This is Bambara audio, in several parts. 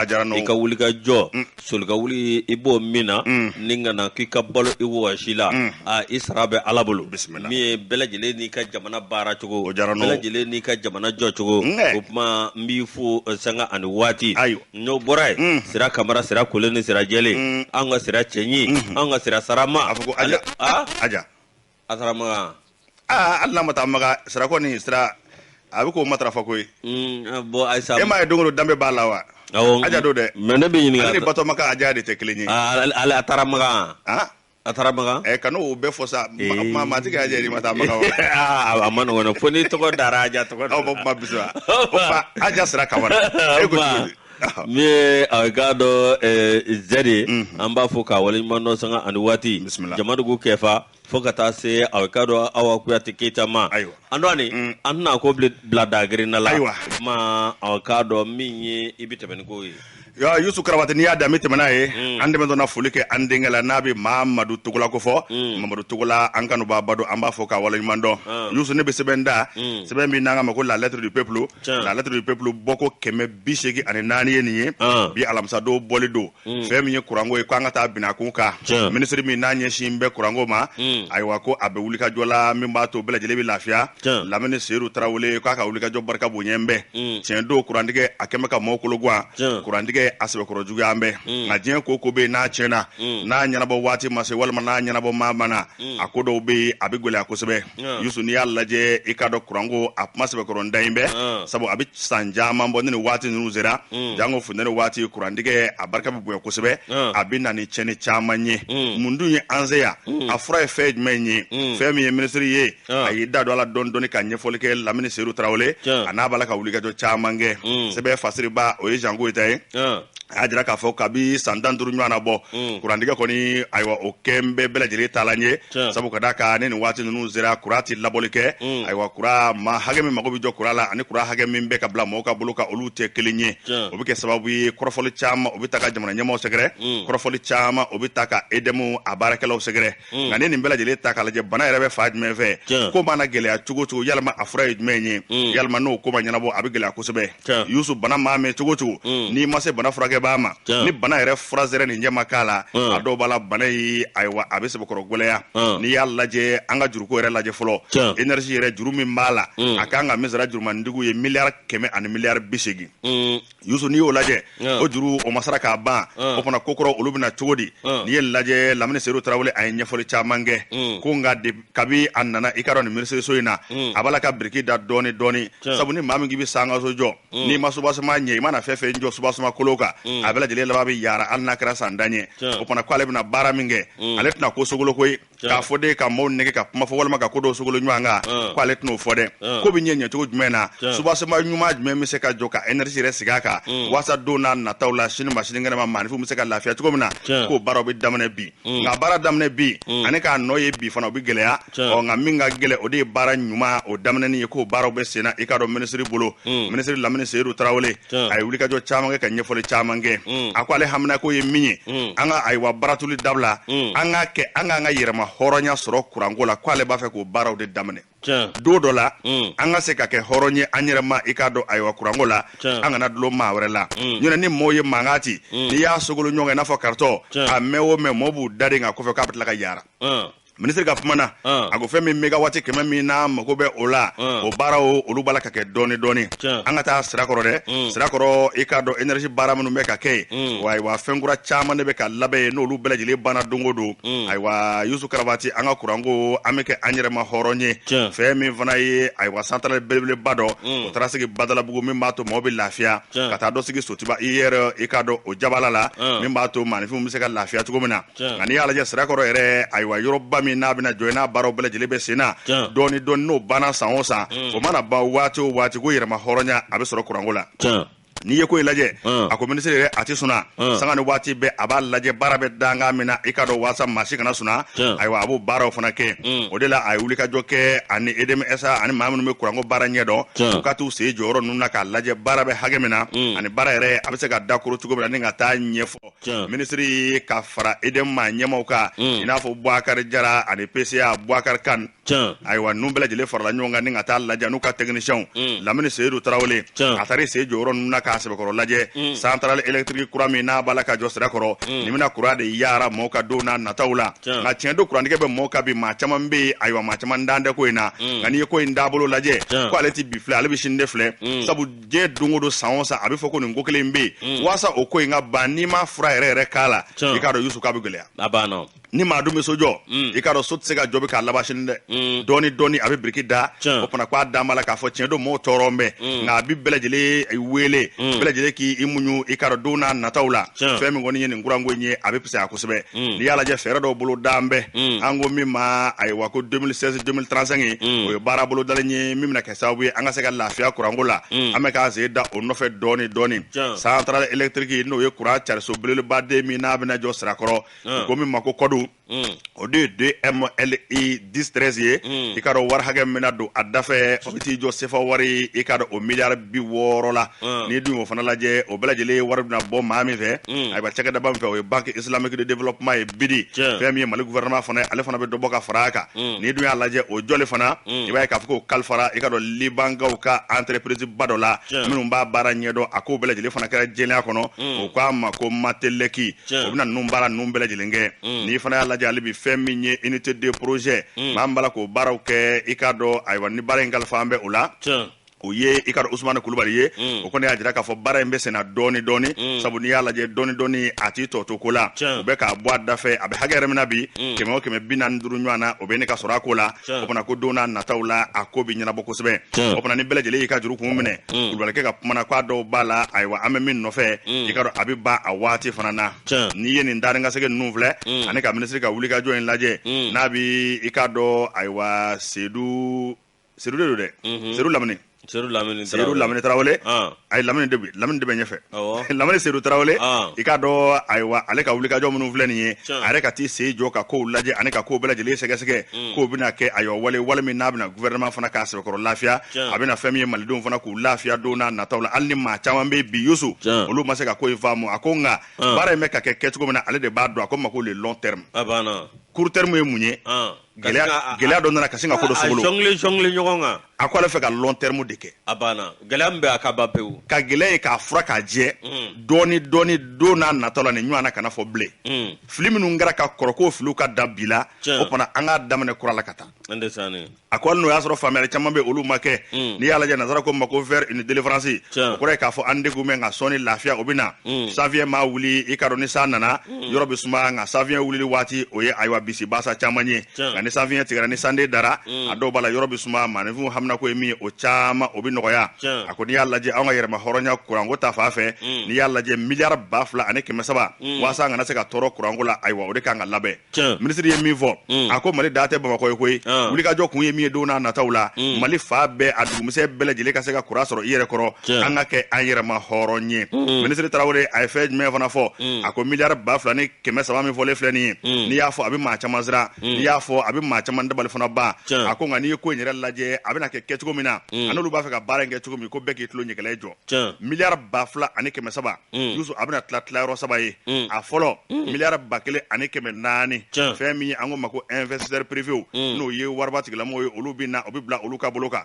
a diyara n'o i ka wuli ka jɔ soli ka wuli i b'o min na ni ka na k'i ka balo i wɔsi la a i sara bɛ ala bolo Bisimila. min ye bɛɛ lajɛlen n'i ka jamana baara cogo O diyara n'o. bɛɛ lajɛlen n'i ka jamana jɔ cogo Nkɛ. o tuma n b'i fo eh, sanga ani waati Ayiwa. n'o bɔra yen sira kamara sira kolen ni sira jɛlen an ka sira cɛɲi an ka sira sarama A fɔ ko aja. a aja a taara makan aa hali n'a ma taa makan sira kɔni sira a bɛ k'o matarafa koyi bɔn ayisa e m'a ye don o don danbe b'a la wa awɔ aja don dɛ mɛ ne bɛ ɲininka ale ni batɔma ka aja de tɛ kelen ye Ah, ale ale- a taara makan han a taara makan ɛ kana o bɛɛ fɔ sa Ee. ma- maa maa ti ka aja yɛrɛ ma taa makan wa Ah, a man nɔgɔn dɛ fo n'i tɔgɔ dara aja tɔgɔ aw bɔ kuma bisimila o fa aja sira kamara e ko cogo di min ye a ka dɔ zɛri an b'a fɔ k'a waleɲuman dɔn sanga ani waati Bisimila. jamadugu kɛfa fo ka taa se a ka dɔ awa kuyate keyita ma Ayiwa. an dɔɔni an tɛna ko bile- bila dagerinda la Ayiwa. o tuma a k'a dɔn min ye i bɛ tɛmɛ ni ko ye Ya, yusu karabati n'i y'a dan bɛ tɛmɛ n'a ye an tɛmɛtɔ na foli kɛ an denkɛ la n'a bɛ mamadu togola ko fɔ mamadu togola an kanubaa ba don an b'a fɔ k'a waleɲuman dɔn yusu ne bɛ sɛbɛn ta sɛbɛn min n'an k'a ma ko la lettre du peuple Tiɲɛ. la lettre du peuple bɔko kɛmɛ bi seegin ani naani ye nin ye An. bi alamisadon bɔli don fɛn min ye kuranko ye ko an ka taa bin a kun kan Tiɲɛ. minisiri min n'a ɲɛsin bɛ kuranko ma ayiwa ko a bɛ wulikajɔ la min b'a to bɛɛ lajɛlen bɛ lafiya Tiɲɛ. lamini seyidu tarawele k'a ka wulikajɔ barika bonya n bɛ tiɲɛ don kurantigɛ a kɛ n bɛ ka maaw kolo gan Tiɲɛ. kurantigɛ a sɛbɛkɔrɔ juguya n bɛ nka diɲɛ ko ko bɛ yen n'a tiɲɛna n'a ɲɛnabɔ waati ma se walima n'a ɲɛnabɔ maa ma na a ko dɔw bɛ yen a bɛ gɛlɛya kosɛbɛ Ɔn. yusu n'i y'a lajɛ i k'a dɔn kuranko a kuma sɛbɛkɔrɔ da in bɛ Ɔn. sabu a bɛ san caman bɔ ni nin waati ninnu sera Mm. janko funtɛni waati kurantigɛ a barika bɛ bonya kosɛbɛ Ɔn. a bɛ na ni tiɲɛni caman ye Mm. mun dun ye an se yan a fura ye fɛn jumɛn ye Mm. fɛn min ye minisiri ye Ɔn. a y'i da don a la dɔɔni dɔɔni ka ɲɛfɔli kɛ lamini seyidu tarawele Tiɲɛ. a n'a b'a la ka wulikajɔ caman kɛ Mm. sɛbɛn fasiribaa o ye zan goyita ye Ɔn. a y'a jira k'a fɔ kabi san tan duuru ɲɔgɔnna bɔ mm. kurantigɛ kɔni ayiwa o kɛ n bɛ bɛɛ lajɛlen taalan ye sabu ka d'a kan ni nin waati ninnu sera kuran tɛ laboli kɛ mm. ayiwa kuran maa hakɛ min mago bɛ jɔ kuran la ani kuran hakɛ min bɛ ka bila mɔgɔw ka bolo kan olu tɛ kelen ye o bɛ kɛ sababu ye kɔrɔfɔli caman o bɛ taa ka jamana ɲɛmaaw sɛgɛrɛ mm. kɔrɔfɔli caman o bɛ taa ka edɛmu a baarakɛlaw sɛgɛrɛ mm. nka n'i ye nin bɛɛ lajɛlen ta k'a lajɛ bana yɛrɛ bɛ fan jumɛn fɛ ko mana gɛlɛya cogo cogo yalima a fura ye jumɛn ye mm. yalima n'o ko ma ɲɛnabɔ a bɛ gɛlɛya kosɛbɛ yusu bana maa mɛn cogo cogo mm. n'i ma se bana furakɛbaa ma ni bana yɛrɛ fura sɛrɛ nin ɲɛma k'a la a dɔw b'a la bana ye ayiwa a bɛ sɛbɛkɔrɔ gɛlɛya n'i y'a lajɛ an ka juruko yɛrɛ lajɛ fɔlɔ enersi yɛrɛ juru min b'a la a kan ka min sara jurumantigiw ye miliyari kɛmɛ ani miliyari bi seegin Youssou n'i y'o lajɛ Ɔn. o juru o ma sara k'a ban Ɔn. o fana ko kɔrɔ olu bɛna cogo di Ɔn. n'i y'a lajɛ lamini seyidu tarawele a ye ɲɛfɔli caman kɛ Mm. ko nka de- kabi a nana i k'a dɔn nin minisiriso in na Mm. a b'a la ka biriki da dɔɔni dɔɔni Tiɲɛ. sabu ni maa min k'i bɛ sankanso jɔ n'i ma subasuma ɲɛ i mana fɛn fɛn jɔ subasuma kolo kan a bɛɛ lajɛlen laban bɛ yaara hali n'a kɛra san tan ye Tiɲɛ. o fana ko ale bɛna baara min kɛ ale tɛna ko sogolo koyi k'a fɔ de ka maaw nɛgɛn ka kuma fɔ walima ka ko dɔw sogolo ɲɔgɔn kan ah. ko ale tɛn'o fɔ dɛ ah. ko bɛ ɲɛ ɲɛcogo jumɛn na subasoma ɲuman jumɛn bɛ se ka jɔ ka energie yɛrɛ sigi a kan mm. walasa don n'a nataw la sini ma sinikɛnɛ ma maaninfinw bɛ se ka lafiya cogo min na k'o baaraw bɛ daminɛ bi mm. nka baara daminɛ bi mm. ani k'a nɔ ye bi fana o bɛ gɛlɛya ɔ nka min ka gɛlɛn o de ye baara ɲuman o daminɛni ye k'o baaraw bɛ senna i k'a dɔn minisiri bolo minisiri lamini seyidu tarawele Tiɲɛ. a ye wulikajɔ caman kɛ ka ɲɛfɔli caman kɛ Mm. a ko ale haminako ye min ye Mm. an ka ayiwa baratuli dabila Mm. an ka kɛ an k'an ka yɛrɛma hɔrɔnya sɔrɔ kuranko la ko ale b'a fɛ k'o baaraw de daminɛ Tiɲɛ. don dɔ la Mm. an ka se ka kɛ hɔrɔn ye an yɛrɛ ma i k'a dɔn ayiwa kuranko la Tiɲɛ. an kana dulon maa wɛrɛ la Mm. ɲɔnɛ ni mɔɔw ye mankan ci n'i y'a sogolo ɲɔgɔn kan i n'a fɔ karitɔn Tiɲɛ. a mɛn o mɛn mɔɔw b'u daden kan kɔfɛ k'a bɛ tila ka yara Hum. minisiri ka kuma na ah. a ko fɛn min megawati kɛmɛ min n'a mago bɛ o la ah. o baaraw olu b'a la ka kɛ dɔɔni dɔɔni an ka taa sirakɔrɔ dɛ mm. sirakɔrɔ i k'a dɔn energie baara minnu bɛ ka kɛ yen mm. wa ayiwa fɛn kura caman de bɛ ka labɛn yen n'olu bɛɛ lajɛlen banna don o don mm. ayiwa yusu karabati an ka kuranko an bɛ kɛ an yɛrɛ ma hɔrɔn ye fɛn min fana ye ayiwa santarali belebeleba dɔ o taara sigi badalabugu min b'a to mɔgɔw bɛ lafiya ka taa dɔ sigi sotiba ier i k'a dɔn o jabala la min b'a to maaninfinw bɛ se ka lafiya cogo min na nka n'i y'a lajɛ sirakɔrɔ yɛrɛ ayiwa yɔrɔba min n'a bɛna jɔ n'a baaraw bɛɛ lajɛlen bɛ sen na dɔɔni dɔɔni n'o banna san o san mm. o mana ban waati o waati ko yɛrɛma hɔrɔnya a bɛ sɔrɔ kuranko la n'i ye ko in lajɛ mm. a ko minisiri yɛrɛ a tɛ suna mm. sanga ni waati bɛɛ a b'a lajɛ baara bɛ dankan min na i k'a dɔn waasa maa si kana suna ayiwa a b'o baaraw fana kɛ o de la a ye wulikajɔ kɛ ani edmsa ani maa minnu bɛ kuranko baara ɲɛdɔn u ka t'u sen jɔ yɔrɔ ninnu na k'a lajɛ baara bɛ hakɛ min na ani baara yɛrɛ a bɛ se ka dakoro cogo min na ni ka taa ɲɛfɛ Tiɲɛ. minisiri ye ka fara edm maa ɲɛmaaw kan Mm. i n'a fɔ buakari jara ani pca buakari kane Tiɲɛ. ayiwa ninnu bɛɛ lajɛlen farala ɲɔgɔn kan ni ka taa lajɛ n'u ka tɛkinisiɛnw Mm. lamini seyidu tarawele Tiɲɛ. a taara sen jɔ yɔrɔ ninnu na k'a sɛbɛkɔrɔ lajɛ Mm. santarali elektiriki kura min n'a b'a la ka jɔ sirakɔrɔ Mm. nin bɛna kuran de yara mɔɔw kan don n'a nataw la Tiɲɛ. nka tiɲɛ don kurantigɛ bɛ mɔɔw kan bi maa caman bɛ yen ayiwa maa caman dan tɛ ko in na Mm. nka n'i ye ko in dabolo lajɛ Tiɲɛ. ko ale ti bi filɛ ale bɛ sini de filɛ Mm. sabu diɲɛ don o don san o san a bɛ fɔ ko nin ko kelen bɛ yen mm. waasa o ko in ka ban n'i ma fura yɛrɛ yɛrɛ k'a la i k'a dɔn yusu k'a bɛ gɛlɛya a banna ni maa dun bɛ so jɔ mm. i k'a dɔn so tɛ se ka jɔ bi k'a laban sini dɛ mm. dɔɔni dɔɔni a bɛ biriki da o fana k'a dan b'a la k'a fɔ tiɲɛ don mɔgɔw tɔɔrɔ bɛ nka a bɛ bɛɛ lajɛlen wele bɛɛ lajɛlen k'i muɲu i k'a dɔn don n'a nataw la fɛn min kɔni ye nin kuranko in ye a bɛ fisaya kosɛbɛ n'i y'a lajɛ fɛɛrɛ dɔw bolo dan bɛ an ko min ma ayiwa ko 2016 2035 o ye baara bolodalen ye min bɛna kɛ sababu ye an ka se ka lafiya kuranko la an bɛ k'an sen da o nɔfɛ dɔɔni dɔɔni. centrale électrique n'o ye kuran cariso belebeleba de min n'a bɛna jɔ sirakɔrɔ. ko min ma ko kɔdu o de ye 2MLI 10 13 ye i k'a dɔn wari hakɛ min bɛna don a dafɛ o bɛ t'i jɔ sefa wari i k'a dɔn o miliyari bi wɔɔrɔ la. n'i dun y'o fana lajɛ o bɛɛ lajɛlen wari bɛna bɔ maa min fɛ ayiwa cakɛdaba min fɛ o ye banque islamique de développement ye BIDI. fɛn min ye Mali gouvernement fana ye ale fana bɛ dɔ bɔ ka fara a kan n'i dun y'a lajɛ o jɔli fana i b'a ye k'a fɔ k'o kalifara i k'a dɔn libankaw ka entreprise ba dɔ la. minnu b'a baara ɲɛdɔn a k'o bɛɛ lajɛlen fana kɛra jɛlenya kɔnɔ o k'a ma ko matelɛki. o bɛna ninnu baara ninnu bɛɛ lajɛlen kɛ n'i fana y'a lajɛ hali bi fɛn min ye unité de projet maa min b'a la k'o baaraw kɛ i k'a dɔn ayiwa ni baara in kalifalen bɛ o la. o ye i k'a dɔn usumani kulubali ye mm. o kɔni y'a jira k'a fɔ baara in bɛ senna dɔɔni dɔɔni mm. sabu n'i y'a lajɛ dɔɔni dɔɔni a t'i tɔ to ko la o bɛ k'a bɔ a da fɛ a bɛ hakɛ yɛrɛ min na bi mm. kɛmɛ o kɛmɛ bi naani ni duuru ɲɔgɔn na o bɛ ne ka sɔrɔ a ko la o fana ko don n'a nataw la a ko bɛ ɲɛnabɔ kosɛbɛ o fana ni bɛɛ lajɛlen y'i ka juru kun minɛ kulubalikɛ ka kumana k'a dɔw b'a la ayiwa an bɛ min nɔfɛ i k'a dɔn a bɛ ban a waati fana na n'i ye nin darinkasɛgɛ ninnu filɛ ani ka minisiri ka wulikajɔ in lajɛ n'a bɛ i k'a dɔn ayiwa sedu Sedu de don dɛ Mhm. sedu lamini sedu lamini sedu lamini tarawele Ah. ayi lamini de lamini de bɛ ɲɛfɛ Awɔ. lamini sedu tarawele Ah. i k'a dɔn ayiwa ale ka wulikajɔ minnu filɛ nin ye. a yɛrɛ ka t'i sen jɔ ka kow lajɛ ani ka kow bɛɛ lajɛlen sɛgɛsɛgɛ Mm. k'o bɛna kɛ ayiwa wale wale min n'a bɛna gouvernement fana k'a sɛbɛkɔrɔ lafiya. a bɛna fɛn min ye malidenw fana k'u lafiya don n'a nataw la hali ni maa caman bɛ bi yusu. olu ma se ka ko in faamu a ko nka Ah. baara in bɛ ka kɛ kɛcogo min na ale de b'a dɔn a ko min ma ko le long terme a banna court terme ye mun ye Ah. gɛlɛya dɔ nana ka sin ka ko dɔ sogolo. A jɔngile jɔngile ɲɔgɔn kan. A ko ale fɛ ka long terme de kɛ. A banna gɛlɛya min bɛ a ka ban pewu. Ka gɛlɛya ye k'a fura k'a jɛ. Mm. Dɔɔni dɔɔni don n'a natɔ la nin ɲɔgɔn na kana fɔ bilen. Mm. Fili minnu kɛra ka kɔrɔ k'o filiw ka dabila. O fana an k'a daminɛ kura la ka taa. A ko hali n'o y'a sɔrɔ faamuyali caman bɛ olu ma kɛ. Mm. N'i y'a lajɛ nazara ko min ma ko vers une délivrance o kɔrɔ ye k'a fɔ an degun bɛ nka sɔɔni lafiya o bɛ na mm. sanfiɲɛ mana wuli i k'a dɔn ni san nana mm. yɔrɔ bɛ suma nka sanfiɲɛ wulili waati o ye ayiwa bisibasa caman ye nka ni sanfiɲɛ tigɛra ni sanden dara mm. a dɔw b'a la yɔrɔ bɛ suma maaninfinw haminako ye min ye o caman o bɛ nɔgɔya a ko n'i y'a lajɛ anw ka yɛrɛmahɔrɔnya kuranko ta fan fɛ n'i y'a lajɛ miliyari ba fila ani kɛmɛ saba waasa an kana se ka tɔɔrɔ kuranko la ayiwa o de kan ka labɛn minisiri ye min fɔ mm. a ko mali dan tɛ bamakɔ ye koyi ah. wulikajɔ kun ye min ye don n'a nataw la mm. mali fan bɛɛ a dugumisɛn bɛɛ lajɛlen ka se ka kuran sɔrɔ i yɛrɛ kɔrɔ an ka kɛ an yɛrɛmahɔrɔn ye mm. minisiri tarawele a ye fɛn jumɛn fana fɔ a ko miliyari ba fila ni kɛmɛ saba min fɔlen filɛ nin ye n'i y'a fɔ a bɛ maa caman siran n'i y'a fɔ a bɛ maa caman dabali fana ban a ko nka n'i ye ko in yɛrɛ lajɛ a bɛna kɛ kɛcogo min na a n'olu b'a fɛ ka baara in kɛ cogo min ko bɛɛ k'i tulo ɲɛgɛlɛ jɔ miliyari ba fila ani kɛmɛ saba mm. yusu a bɛna tila tilayɔrɔ saba ye mm. a fɔlɔ mm. miliyari ba kelen ani kɛmɛ naani fɛn min ye an ko ma ko investisseur privew n'o ye wariba tigilamɔgɔw ye olu bɛ na o bɛ bila olu ka bolo kan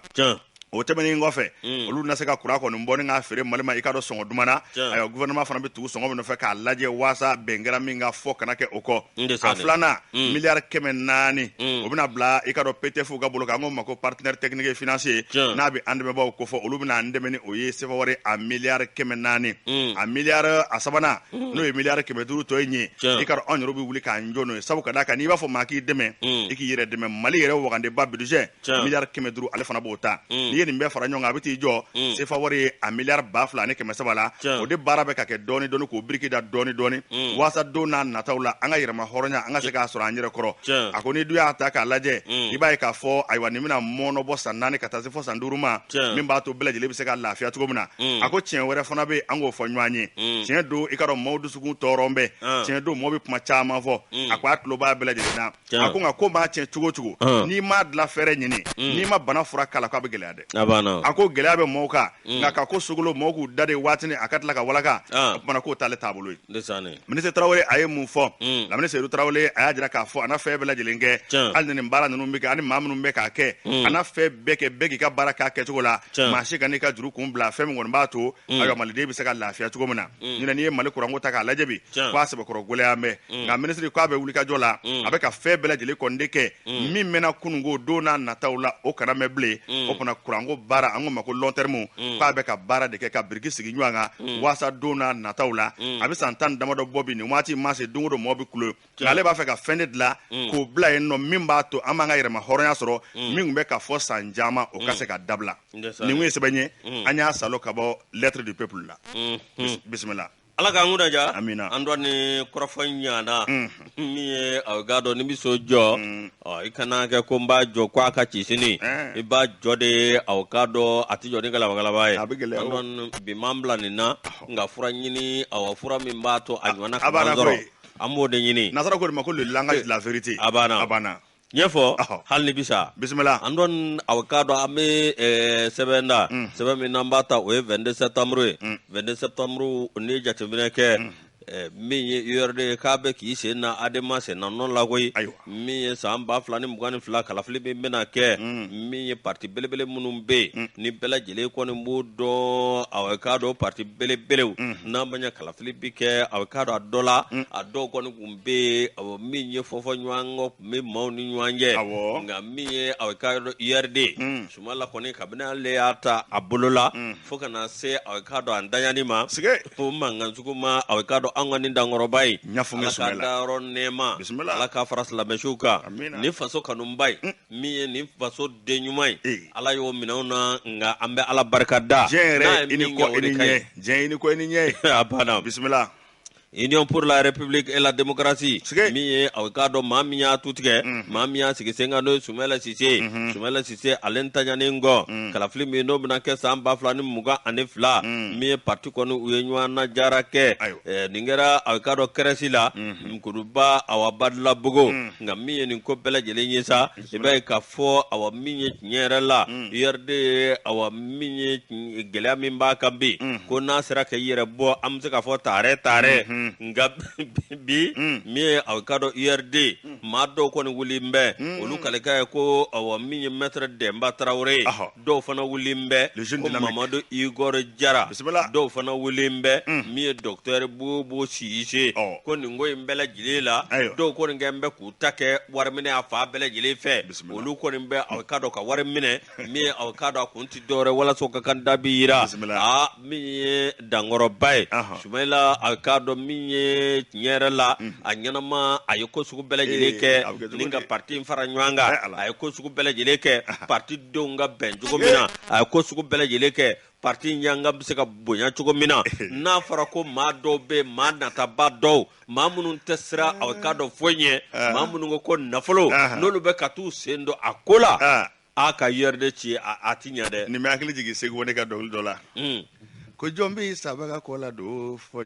o tɛmɛnen kɔfɛ mm. olu na se ka kuran kɔni bɔ ni k'a feere mali ma i k'a dɔn sɔngɔ duman na ayiwa gouvernement fana bɛ tugu sɔngɔ min nɔfɛ k'a lajɛ waasa bɛn kɛra min kan fɔ kana kɛ o kɔ a filanan mm. miliyari kɛmɛ naani mm. o bɛna bila i k'a dɔn ptf ka bolo kan an ko ma ko partenaire technique et financier n'a bɛ an dɛmɛbaaw kofɔ olu bɛna an dɛmɛ ni o ye sefa wari a miliyari kɛmɛ naani mm. a miliyari a sabanan mm. n'o ye miliyari kɛmɛ duuru tɔ ye nin ye i k'a dɔn anw yɛrɛ bɛ wuli k'an jɔ n'o ye sabu ka d'a kan n'i b'a fɔ maa k'i dɛmɛ mm. i k'i yɛrɛ dɛmɛ mali yɛrɛ wagandeba budget miliyari kɛmɛ duuru ale fana b'o ta mm. n'i ye nin bɛɛ fara ɲɔgɔn kan a bɛ t'i jɔ mm. sefa wari ye a miliyari ba fila ani kɛmɛ saba la o de baara bɛ ka kɛ dɔɔni dɔɔni k'o biriki da dɔɔni dɔɔni mm. waasa don n'a nataw la an ka yɛrɛma hɔrɔnya an ka se k'a sɔrɔ an yɛrɛ kɔrɔ a ko n'i dun y'a ta k'a lajɛ i b'a ye k'a fɔ ayiwa nin bɛna mɔɔnɔbɔ san naani ka taa se fɔ san duuru ma min b'a to bɛɛ lajɛlen bɛ se ka lafiya cogo min na a ko tiɲɛ wɛrɛ fana bɛ an k'o fɔ ɲɔgɔn ye tiɲɛ don i k'a dɔn maaw dusukun tɔɔrɔ bɛ tiɲɛ don mɔgɔ bɛ kuma caman fɔ a ko a tulo b'a bɛɛ lajɛlen na a ko nka ko maa tiɲɛ cogo o cogo n'i m'a dilan fɛɛrɛ ɲini mm. n'i ma bana fura k'a la k'a bɛ gɛlɛya dɛ a ko gɛlɛya bɛ mɔgɔw kan mm. nka ka ko sogolo mɔgɔw k'u dade waatinin a ka tila ka walaka o kumana k'o t'ale taabolo ye minisiri tarawele a ye mun fɔ mm. lamini seyidu tarawele a y'a jira k'a fɔ a na fɛn bɛɛ lajɛlen kɛ hali ni baara ninnu bɛ kɛ ani maa minnu bɛ k'a kɛ a na fɛn bɛɛ kɛ bɛɛ k'i ka baara k'a kɛcogo la maa si kan'i ka juru kun bila fɛn min kɔni b'a to mm. ayiwa maliden bɛ se ka lafiya cogo min na mm. ɲinɛ n'i ye mali kuranko ta k'a lajɛ bi k'a sɛbɛkɔrɔ gɛlɛya mɛn mm. nka minisiri k'a bɛ wulikajɔ la a bɛ ka fɛn bɛɛ lajɛlen kɔni de kɛ min mɛnna kunun ko don n'a nataw la o kana mɛn bilen o fana kuranko baara an ko ma ko long terme k'a bɛ ka baara de kɛ ka biriki sigi ɲɔgɔn kan waasa don n'a nataw la a bɛ san tan damadɔ bɔ bi nin waati ma se don o don mɔɔ bɛ kulo nka ale b'a fɛ ka fɛn de dilan Mm. k'o bila yen nɔ min b'a to an b'an ka yɛrɛma hɔrɔnya sɔrɔ Mm. min tun bɛ ka fɔ san caman o ka se ka dabila nin kun ye sɛbɛn ye Mm. an y'a salo ka bɔ lettre du peuple la Mhm. Bis- bisimila ala k'an kunnadiya Amina. an dɔ ni kɔrɔfɔ ɲana Mhm. min ye aw k'a dɔn n'i bɛ so jɔ Mm. ɔ, i kana kɛ ko n b'a jɔ ko a ka ci sini Eh. i b'a jɔ de aw k'a dɔn a tɛ jɔ ni galabagalaba ye A bɛ gɛlɛya An o. dɔn bi m'an bila nin na nka fura ɲini awa fura min b'a to a ɲɔgɔnna a ka b'a ban na sɔrɔ koyi. an b'o de ɲini nasara k'o de ma ko le langage de la vérité a bana a bana ɲɛfɔ Ɔhɔ. hali n'i bi sa bisimila an dɔn aw k'a dɔn an bɛ eh, sɛbɛn ta Mm. sɛbɛn min n'an b'a ta o ye 22 septembre ye Mm. 22 septembre n'i ye jateminɛ kɛ eh, min ye urd ye k'a bɛ k'i sen da adema sen da nɔ la koyi ayiwa min ye san ba fila ni mugan ni fila kalafili min bɛna kɛ mm. min ye pati belebele minnu bɛ yen mm. ni bɛɛ lajɛlen kɔni b'o dɔn aw k'a dɔn pati belebelew mm. n'an b'a ye kalafili bɛ kɛ aw k'a dɔn a dɔ la a dɔw kɔni tun bɛ yen min ye fɔfɔ ɲɔgɔn kɔ tun bɛ maaw ni ɲɔgɔn cɛ nka min ye aw k'a dɔn urd sumayila kɔni kabini ale y'a ta a bolo la Fo kana se aw k'a dɔn an daani ma s fo mankanjugu ma aw k'a dɔn an ka nin dankɔrɔba ye Ala ka dayɔrɔ nɛɛma bisimila ala k'a fara silamɛ suw kan nin faso kanubaa ye min ye nin faso den ɲuman ye ala y'o minɛ an na nka an bɛ ala barika da diɲɛ ɲɛ a banna bisimila Union pour la République et la démocratie min ye aw k'a dɔn maa min y'a tu tigɛ mhm. maa min y'a sigi sen kan n'o ye Sumayila Sise ye mhm. Sumayila Sise ale ntanyanen kɔ mhm. kalafili min n'o bɛna kɛ san ba fila ni mugan ani fila min ye parti kɔni u ye ɲɔgɔn najɛrɛ kɛ eh, nin kɛra aw k'a dɔn CRES la kuluba awa Badalabugu nka min ye nin ko bɛɛ lajɛlen ye sa i b'a ye k'a fɔ awa min ye tiɲɛ yɛrɛ la mm. URD ye awa min ye gɛlɛya min b'a kan bi mm. ko n'a sera ka i yɛrɛ bɔ an bɛ se k'a fɔ taarɛ taarɛ mm-hmm. nka bi mm. min ye aw k'a dɔn URD maa dɔw kɔni wulilen bɛ olu kalikan ye ko awa min ye mɛtɛrɛ Dɛnba Tarawele dɔw fana wulilen bɛ ko Mamadu Igor Jara dɔw fana wulilen bɛ min ye dɔkitɛri Bubu Sise ko nin ko in bɛɛ lajɛlen la dɔw kɔni kɛlen bɛ k'u ta kɛ wari minɛ a fan bɛɛ lajɛlen fɛ Bisimila. olu kɔni bɛ aw k'a dɔn ka wari minɛ min ye aw k'a dɔn a kun tɛ dɔwɛrɛ walasa u ka kandida bi yira Bisimila. aa min ye dankɔrɔba ye Ahan. Sumayila aw k'a dɔn min ye tiɲɛ yɛrɛ la a ɲɛnama a ye ko sugu bɛɛ lajɛlen Ee, kɛ a bɛ kɛ cogo ni ka di? parti in fara ɲɔgɔn kan Ee, Ala. a ye ko sugu bɛɛ lajɛlen kɛ parti denw ka bɛn cogo min na a ye ko sugu bɛɛ lajɛlen kɛ Pati ɲga bɛ se ka bonya cogo min na n'a fɔra ko maa dɔw bɛ maa nataba dɔw maa minnu tɛ siran aw k'a dɔn foyi ɲɛ maa minnu ko ko nafolo n'olu bɛ ka taa u sen don a ko la a ka URD ci a ti ɲɛ dɛ nin bɛ hakili jigin Segu ne ka dɔnkili dɔ la ko jɔn bɛ saba ka kɔ la don fɔ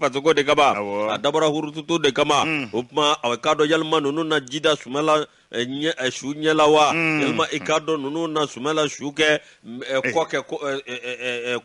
fasoko de kama a dabɔra hurututu de kama mm. o tuma aw k'a dɔn yali maa ninnu na ji da Sumayila eh, ɲɛ eh, su ɲɛ la wa mm. yali maa i k'a dɔn ninnu na Sumayila su kɛ eh, kɔ kɛ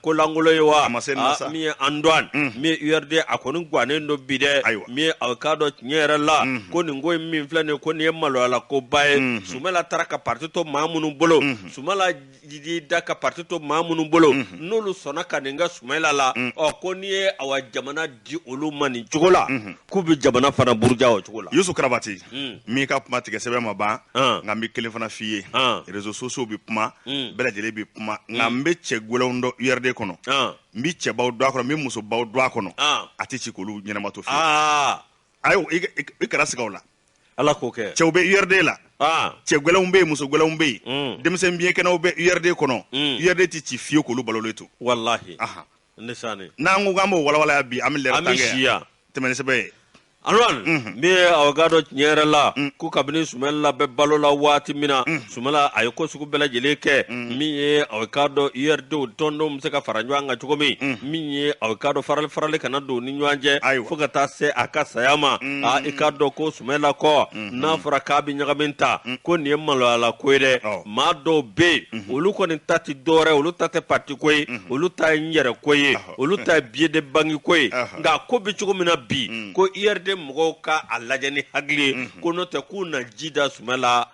kolankolon ye wa ah, min ye Antuwan mm. min ye URD a kɔni gannen don bi dɛ min ye aw k'a dɔn tiɲɛ yɛrɛ la ko nin ko in min filɛ nin ye ko nin ye maloyala koba ye Sumayila taara ka parti to maa minnu bolo Sumayila y'i da ka pati to maa minnu bolo n'olu sɔnna ka nin kɛ Sumayila la ɔ ko n'i ye awa jamana di olu ma nin cogo la k'u bɛ jamana fana buruja o cogo la Yusu Karabati n m'i ka kuma tigɛ sɛbɛ ma ban nka n bɛ kelen fana f'i ye réseaux sociaux bɛ kuma bɛɛ lajɛlen bɛ kuma nka n bɛ cɛ gɛlɛnw dɔn URD kɔnɔ n bɛ cɛbaw dɔn a kɔnɔ n bɛ musobaw dɔn a kɔnɔ a tɛ ci k'olu ɲɛnama to fiyewu ayi i kana siga a la ala k'o kɛ cɛw bɛ URD la ah. cɛ gɛlɛnw bɛ yen muso gɛlɛnw bɛ yen mm. denmisɛn biyɛnkɛnɛw bɛ URD kɔnɔ mm. URD tɛ ci fiyewu k'olu balolen to walahi n'an ko k'an b'o walawala yan bi an bɛ lɛrɛ tan kɛ yan tɛmɛ ni sɛbɛ ye Antuwan mhm. min ye aw k'a dɔn tiɲɛ yɛrɛ la mm. ko kabini Sumayila bɛ balo la waati min na sumala a ye ko sugu bɛɛ lajɛlen kɛ mm. min ye aw k'a dɔn urdw tɔndenw bɛ se ka fara ɲɔgɔn kan cogo min mm. min ye aw k'a dɔn farali farali kana don ni ɲɔgɔn cɛ fo ka taa se a ka saya ma mm. a i k'a dɔn ko sumala kɔ mm-hmm. n'a fɔra k'a bɛ ɲagami tan ko nin ye maloyala ko ye dɛ oh. maa dɔw bɛ yen mm-hmm. olu kɔni ta tɛ dɔwɛrɛ olu ta tɛ parti ko ye mm-hmm. olu ta ye n yɛrɛ ko ye olu ta ye billet de banque ko ye nka a ko bɛ cogo min na bi ko urd mɔgɔw ka a lajɛ ni hakili ye ko n'o tɛ k'u na ji da sumala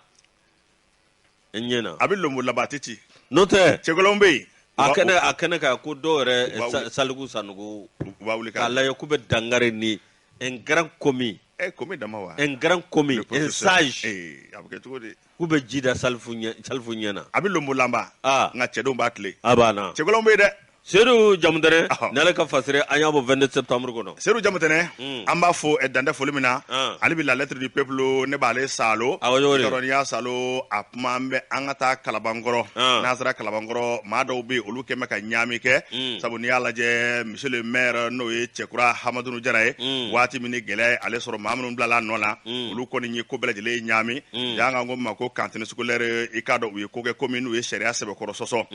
n ɲɛ na a bɛ lonbo laban a tɛ ci n'o tɛ cɛkolon bɛ yen a kɛnɛ a kɛnɛ kan ko dɔw yɛrɛ U b'a sa- wuli. saliku sanɔgɔ u b'a wuli k'a k'a lajɛ k'u bɛ dankari ni un grand commis ɛ commis dama wa un grand commis Le un professeur. sage Ee, a bɛ kɛ cogo di k'u bɛ ji da salifu ɲɛ salifu ɲɛ na a bɛ lonbo laban Ah. nka cɛdenw b'a tile a banna cɛkolon bɛ yen dɛ sedu jamutɛnɛ ni ale ka fasiri an y'a bɔ 22 septembre kɔnɔ sedu jamutɛnɛ hmm. an b'a fo eh, dan tɛ foli min na ah. ale bi la lettre du peuple ne b'ale salo n'i y'a salo a kuma an bɛ an ka taa kalabankɔrɔ ah. n'an sera kalabankɔrɔ maa dɔw bɛ olu kɔni bɛ ka ɲaami kɛ hmm. sabu n'i y'a lajɛ monsieur le maire n'o ye cɛkura hamadunu jara ye hmm. waati min ni gɛlɛya ye ale sɔrɔ maa minnu bilala a nɔ la olu kɔni ye ko bɛɛ lajɛlen ye ɲaami yan an ko ma ko cantine scolaire i k'a dɔn u ye ko kɛ ko min n'u ye sariya sɛbɛkɔrɔ sɔsɔ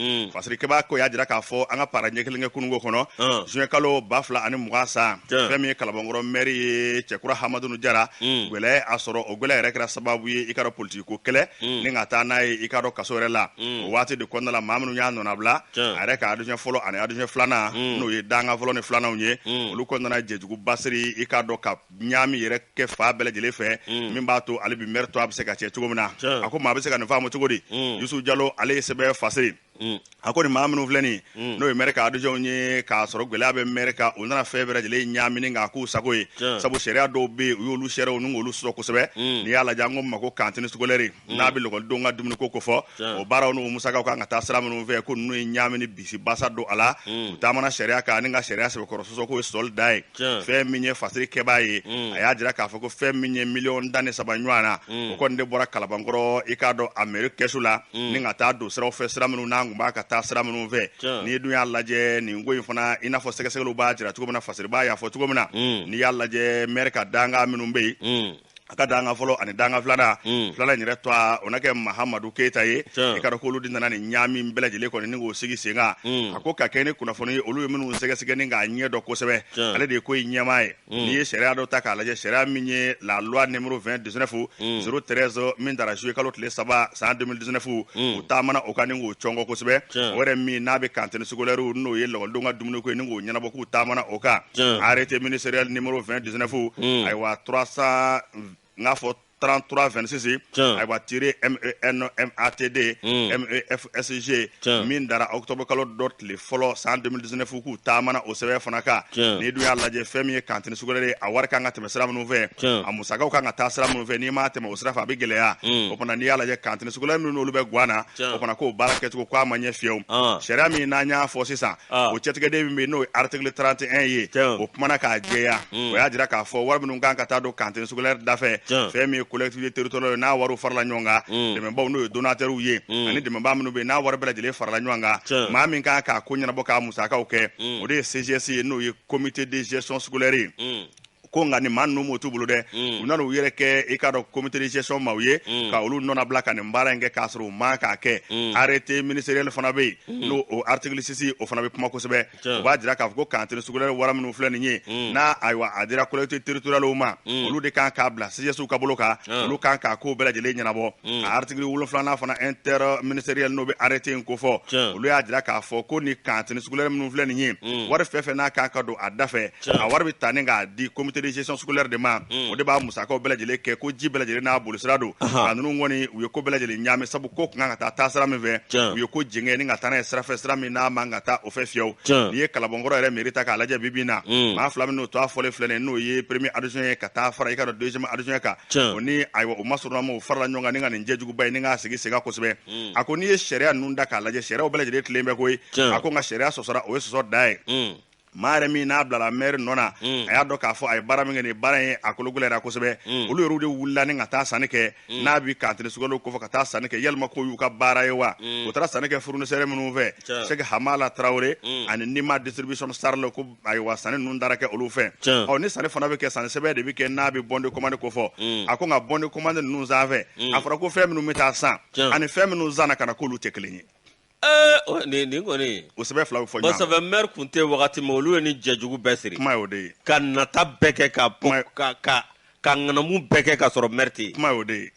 Sirikɛbaa ko y'a jira k'a fɔ an ka para ɲɛ kelen kɛ kununko kɔnɔ zuwɛn kalo ba fila ani mugan san fɛn min ye kalabankɔrɔ mɛri ye cɛkura hamadunu jara gɛlɛya a sɔrɔ o gɛlɛya yɛrɛ kɛra sababu ye i k'a dɔn politigi ko kɛlɛ ni ka taa n'a ye i k'a dɔn kaso yɛrɛ la o waati de kɔnɔna la maa minnu y'a nɔnabila a yɛrɛ ka adjoint fɔlɔ ani adjoint filanan n'o ye dankan fɔlɔ ni filananw ye olu kɔni nana jɛjuguba siri i k'a dɔn ka ɲaami yɛrɛ kɛ fan bɛɛ lajɛlen fɛ mm. min b'a to ale bi mɛri tɔgɔ bɛ se ka cɛn cogo min na a ko maa bɛ se ka nin faamu cogo di mm. yusu jalo ale ye sɛbɛn fasiri mm. a ko nin maa minnu filɛ nin n'o ye mɛri ka adjointw ye k'a sɔrɔ gɛlɛya bɛ mɛri kan u nana fɛn bɛɛ lajɛlen ɲaami ni k'a k'u sago ye sabu sariya dɔw bɛ yen u y'olu sariyaw ni k'olu sɔsɔ kosɛbɛ n'i y'a lajɛ an ko min ma ko cantine scolaire Mm. n'a bɛ lakɔlidenw ka dumuniko ko fɔ o baaraw n'o musakaw kan ka taa sira minnu fɛ ko ninnu ye ɲaamini bisi basa don a la mm. u taamana sariya kan ani ka sariya sɛbɛkɔrɔ sɔsɔ k'o ye sɔli da ye fɛn min ye fasiri kɛbaa ye mm. a y'a jira k'a fɔ ko fɛn min ye miliyɔn tan ni saba ɲɔgɔn na o kɔni de bɔra kalabankɔrɔ i k'a dɔn a mɛri kɛsu la ni ka taa don siraw fɛ sira minnu n'a tun man kan ka taa sira minnu fɛ n'i dun y'a lajɛ nin ko in fana i n'a fɔ sɛgɛsɛgɛliw b'a jira cogo min na fasiribaa y'a fɔ cogo min na n'i y'a lajɛ mɛri ka dankan minnu bɛ yen a ka dankan fɔlɔ ani dankan filanan mm. filanan in yɛrɛ tɔgɔ o na kɛ mahamadu keyita ye i k'a dɔn k'olu de nana nin ɲaami bɛɛ lajɛlen kɔni ni k'o sigi sen kan mm. a ko ka kɛɲɛ ni kunnafoni ye olu ye minnu sɛgɛsɛgɛ ni k'a ɲɛ dɔn kosɛbɛ ale de ye ko in ɲɛmaa ye mm. n'i ye sariya dɔ ta k'a lajɛ sariya min ye la loi numéro 2019 013 min tara juillet kalo tile saba san 2019 u taamana o kan ni k'o cɔngɔ kosɛbɛ o yɛrɛ min n'a bɛ cantine scolaire n'o ye lakɔlidenw ka dumuniko ye ni k'o ɲɛnabɔ k'u taamana o kan Tiɲɛ. arrêté ministériel numéro 2019 Mm. ayiwa 300 n k'a fɔ 3326 Tiɲɛ. ayiwa tiré MENMATD Mm. MEFSG Tiɲɛ. min dara octobre kalo dɔ tile fɔlɔ san 2019 k'u taamana o sɛbɛn fana kan Tiɲɛ. n'i dun y'a lajɛ fɛn min ye cantine scolaire a wari kan ka tɛmɛ sira minnu fɛ Tiɲɛ. a musakaw kan ka taa sira minnu fɛ n'i m'a tɛmɛ o sira fɛ a bɛ gɛlɛya Mm. o fana n'i y'a lajɛ cantine scolaire minnu n'olu bɛ Guwana Tiɲɛ. o fana k'o baara kɛcogo k'a ma ɲɛ fiyewu Ah. sariya min n'an y'a fɔ sisan Ah. o cɛtigɛden min bɛ yen n'o ye article 31 ye Tiɲɛ. o kumana k'a jɛya Mm. o y'a jira k'a fɔ wari minnu kan ka taa don cantine scolaire da fɛ Tiɲɛ. fɛn min ye collectivité territoriale n'a wariw farala ɲɔgɔn kan Mm. dɛmɛbaaw n'o ye donateurw ye Mm. ani dɛmɛbaa minnu bɛ yen n'a wari bɛɛ lajɛlen farala ɲɔgɔn kan Tiɲɛ. maa min kan k'a ko ɲɛnabɔ k'a musakaw kɛ Mm. o de ye CGS ye n'o ye comité de gestion scolaire ye Mm. ko nka nin maa ninnu m'a to u bolo dɛ mm. u nana u yɛrɛ kɛ i k'a dɔn comité de gestion maaw ye mm. ka olu nɔnabila ka nin baara in kɛ k'a sɔrɔ u man k'a kɛ mm. arrêté ministériel fana bɛ yen n'o o article 6 o fana bɛ kuma kosɛbɛ o b'a jira k'a fɔ ko cantine scolaire wari minnu filɛ nin ye n'a ayiwa a dira collectivité territoriale ma olu de kan k'a bila CGSw ka bolo kan olu kan k'a kow bɛɛ lajɛlen ɲɛnabɔ a article wolonfila fana interministériel n'o bɛ arrêté in ko fɔ olu y'a jira k'a fɔ ko nin cantine scolaire minnu filɛ nin ye wari fɛn fɛn n'a kan ka don a da fɛ a wari bɛ ta ni k'a di comité de gestion scolaire de ma o de b'a musakaw bɛɛ lajɛlen kɛ ko ji bɛɛ lajɛlen n'a bolisira don a ninnu kɔni u ye ko bɛɛ lajɛlen ɲaami sabu ko tun kan ka taa taasira min fɛ u ye ko jɛngɛ ni ka taa n'a ye sira fɛ sira min n'a man ka taa o fɛ fiyewu n'i ye Kalabankɔrɔ yɛrɛ mairie ta k'a lajɛ bi bi in na maa fila minnu tɔgɔ fɔlen filɛ nin ye n'o ye premier adjoint ye ka taa fara i k'a dɔn deuxième adjoint kan o ni ayiwa o masuruna ma o farala ɲɔgɔn kan ni ka nin jɛjuguba ye ni k'a sigi sen kan kosɛbɛ a ko n'i ye sariya ninnu ta k'a lajɛ sariyaw bɛɛ lajɛlen tilen bɛ koyi a ko nka sariya sɔsɔra o ye sɔsɔ dan ye maa yɛrɛ min n'a bilala maire nɔ na mm. a y'a dɔn k'a fɔ a ye baara min kɛ nin baara ye a kologɛlɛyara kosɛbɛ mm. olu yɛrɛw de wulila ni ka taa sanni kɛ mm. n'a bi cantine scolaire kɔfɛ ka taa sanni kɛ yalima k'o y'u ka baara ye wa u taara sanni kɛ fournisseur minnu fɛ Sɛki Hamala Tarawele ani Nima distribution SARL ko ayiwa sanni ninnu taara kɛ olu fɛ ɔ ni sanni fana bɛ kɛ sanni sɛbɛn de bɛ kɛ n'a bɛ bon de commande ko fɔ a ko nka bon de commande ninnu sanfɛ a fɔra ko fɛn minnu bɛ taa san ani fɛn minnu sanna ka na k'olu tɛ kelen ye nin kɔni o sɛbɛn fila bɛ fɔ ɲɔgɔn kɔ sabu maire tun tɛ wagati min olu ye nin jɛjugu bɛɛ siri kuma o de ye ka nata bɛɛ kɛ ka ka ka ka ŋanamu bɛɛ kɛ ka sɔrɔ maire tɛ yen kuma o de ye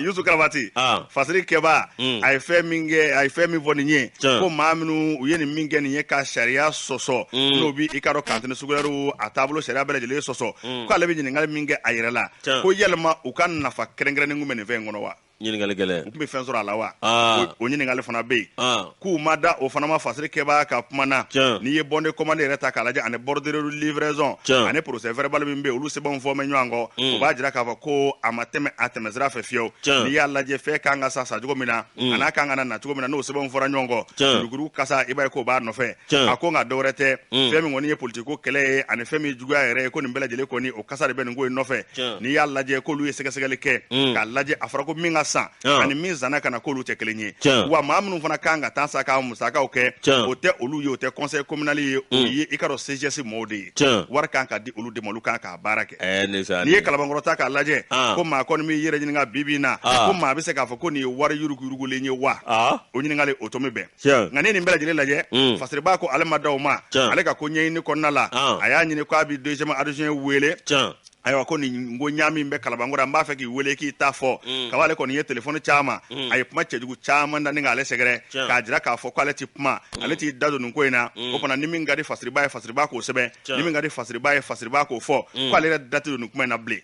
dusu kɛrabati fasiri kɛbaa a ye fɛn min kɛ a ye fɛn min fɔ nin ye ko maa minnu u ye nin min kɛ nin ye ka sariya sɔsɔ n'o b' i k'a dɔn cantine scolaire a taabolo sariya bɛɛ lajɛlen sɔsɔ k'ale bɛ ɲininkali min kɛ a yɛrɛ la ko yalima u ka nafa kɛrɛnkɛrɛnnen tun bɛ nin fɛn in kɔnɔ wa ɲininkali gɛlɛn u tun bɛ fɛn sɔrɔ a la wa ah. o ɲininkali fana bɛ yen ah. k'u ma da o fana ma fasiri kɛbaa ka kuma na n'i ye bon de commande yɛrɛ ta k'a lajɛ ani bordereau de livraison ani procès verbal min bɛ yen olu sɛbɛnw fɔ mɛ ɲɔgɔn kɔ mm. o b'a jira k'a fɔ ko a ma tɛmɛ a tɛmɛsira fɛ fiyewu n'i y'a lajɛ fɛn kan ka san sancogo min na mm. an'a kan ka na nacogo min na n'o sɛbɛnw fɔra ɲɔgɔn kɔ yuruguyurugu kasa i b'a ye k'o b'a nɔfɛ a ko nka dɔwɛrɛ tɛ mm. fɛn min kɔni ye politiki ko kɛlɛ ye ani fɛn min juguya yɛrɛ ye ko nin bɛɛ lajɛlen kɔni o kasa de bɛ nin ko in nɔfɛ n'i y'a lajɛ k'olu ye sɛgɛsɛgɛli kɛ mm. k'a lajɛ a fɔra ko min ka san ani min sanna ka na k'olu tɛ kelen ye wa maa minnu fana kan ka taa sa ka musakaw kɛ o tɛ olu ye o tɛ conseil communal ye o mm. ye i k'a dɔn CGS mɔɔw de ye wari kan ka di olu de ma olu kan k'a baara kɛ eh, n'i ye kalabankɔrɔ ta k'a lajɛ ah. ko maa kɔni b'i yɛrɛ ɲininka bi bi in na ah. ko maa bɛ se k'a fɔ ko nin ye wari yuruguyurugulen ye wa ah. o ɲininkali o to bɛn nka ni nin bɛɛ lajɛlen lajɛ mm. fasiriba ko ale ma da o ma ale ka ko ɲɛɲini kɔnɔna la ah. a y'a ɲini ko a bi deuxième adjoint wele ayiwa ko nin ko ɲaami bɛ kalabankɔrɔ an b'a fɛ k'i wele k'i ta fɔ mm. kaba ale kɔni ye telefɔni caman mm. a ye kuma cɛjugu caman da ni k'ale sɛgɛrɛ k'a jira k'a fɔ ko ale tɛ kuma mm. ale t'i da don nin ko in na o fana ni min ka di fasiriba ye fasiriba k'o sɛbɛn ni min ka di fasiriba ye fasiriba k'o fɔ ko ale yɛrɛ da tɛ don nin kuma in na bilen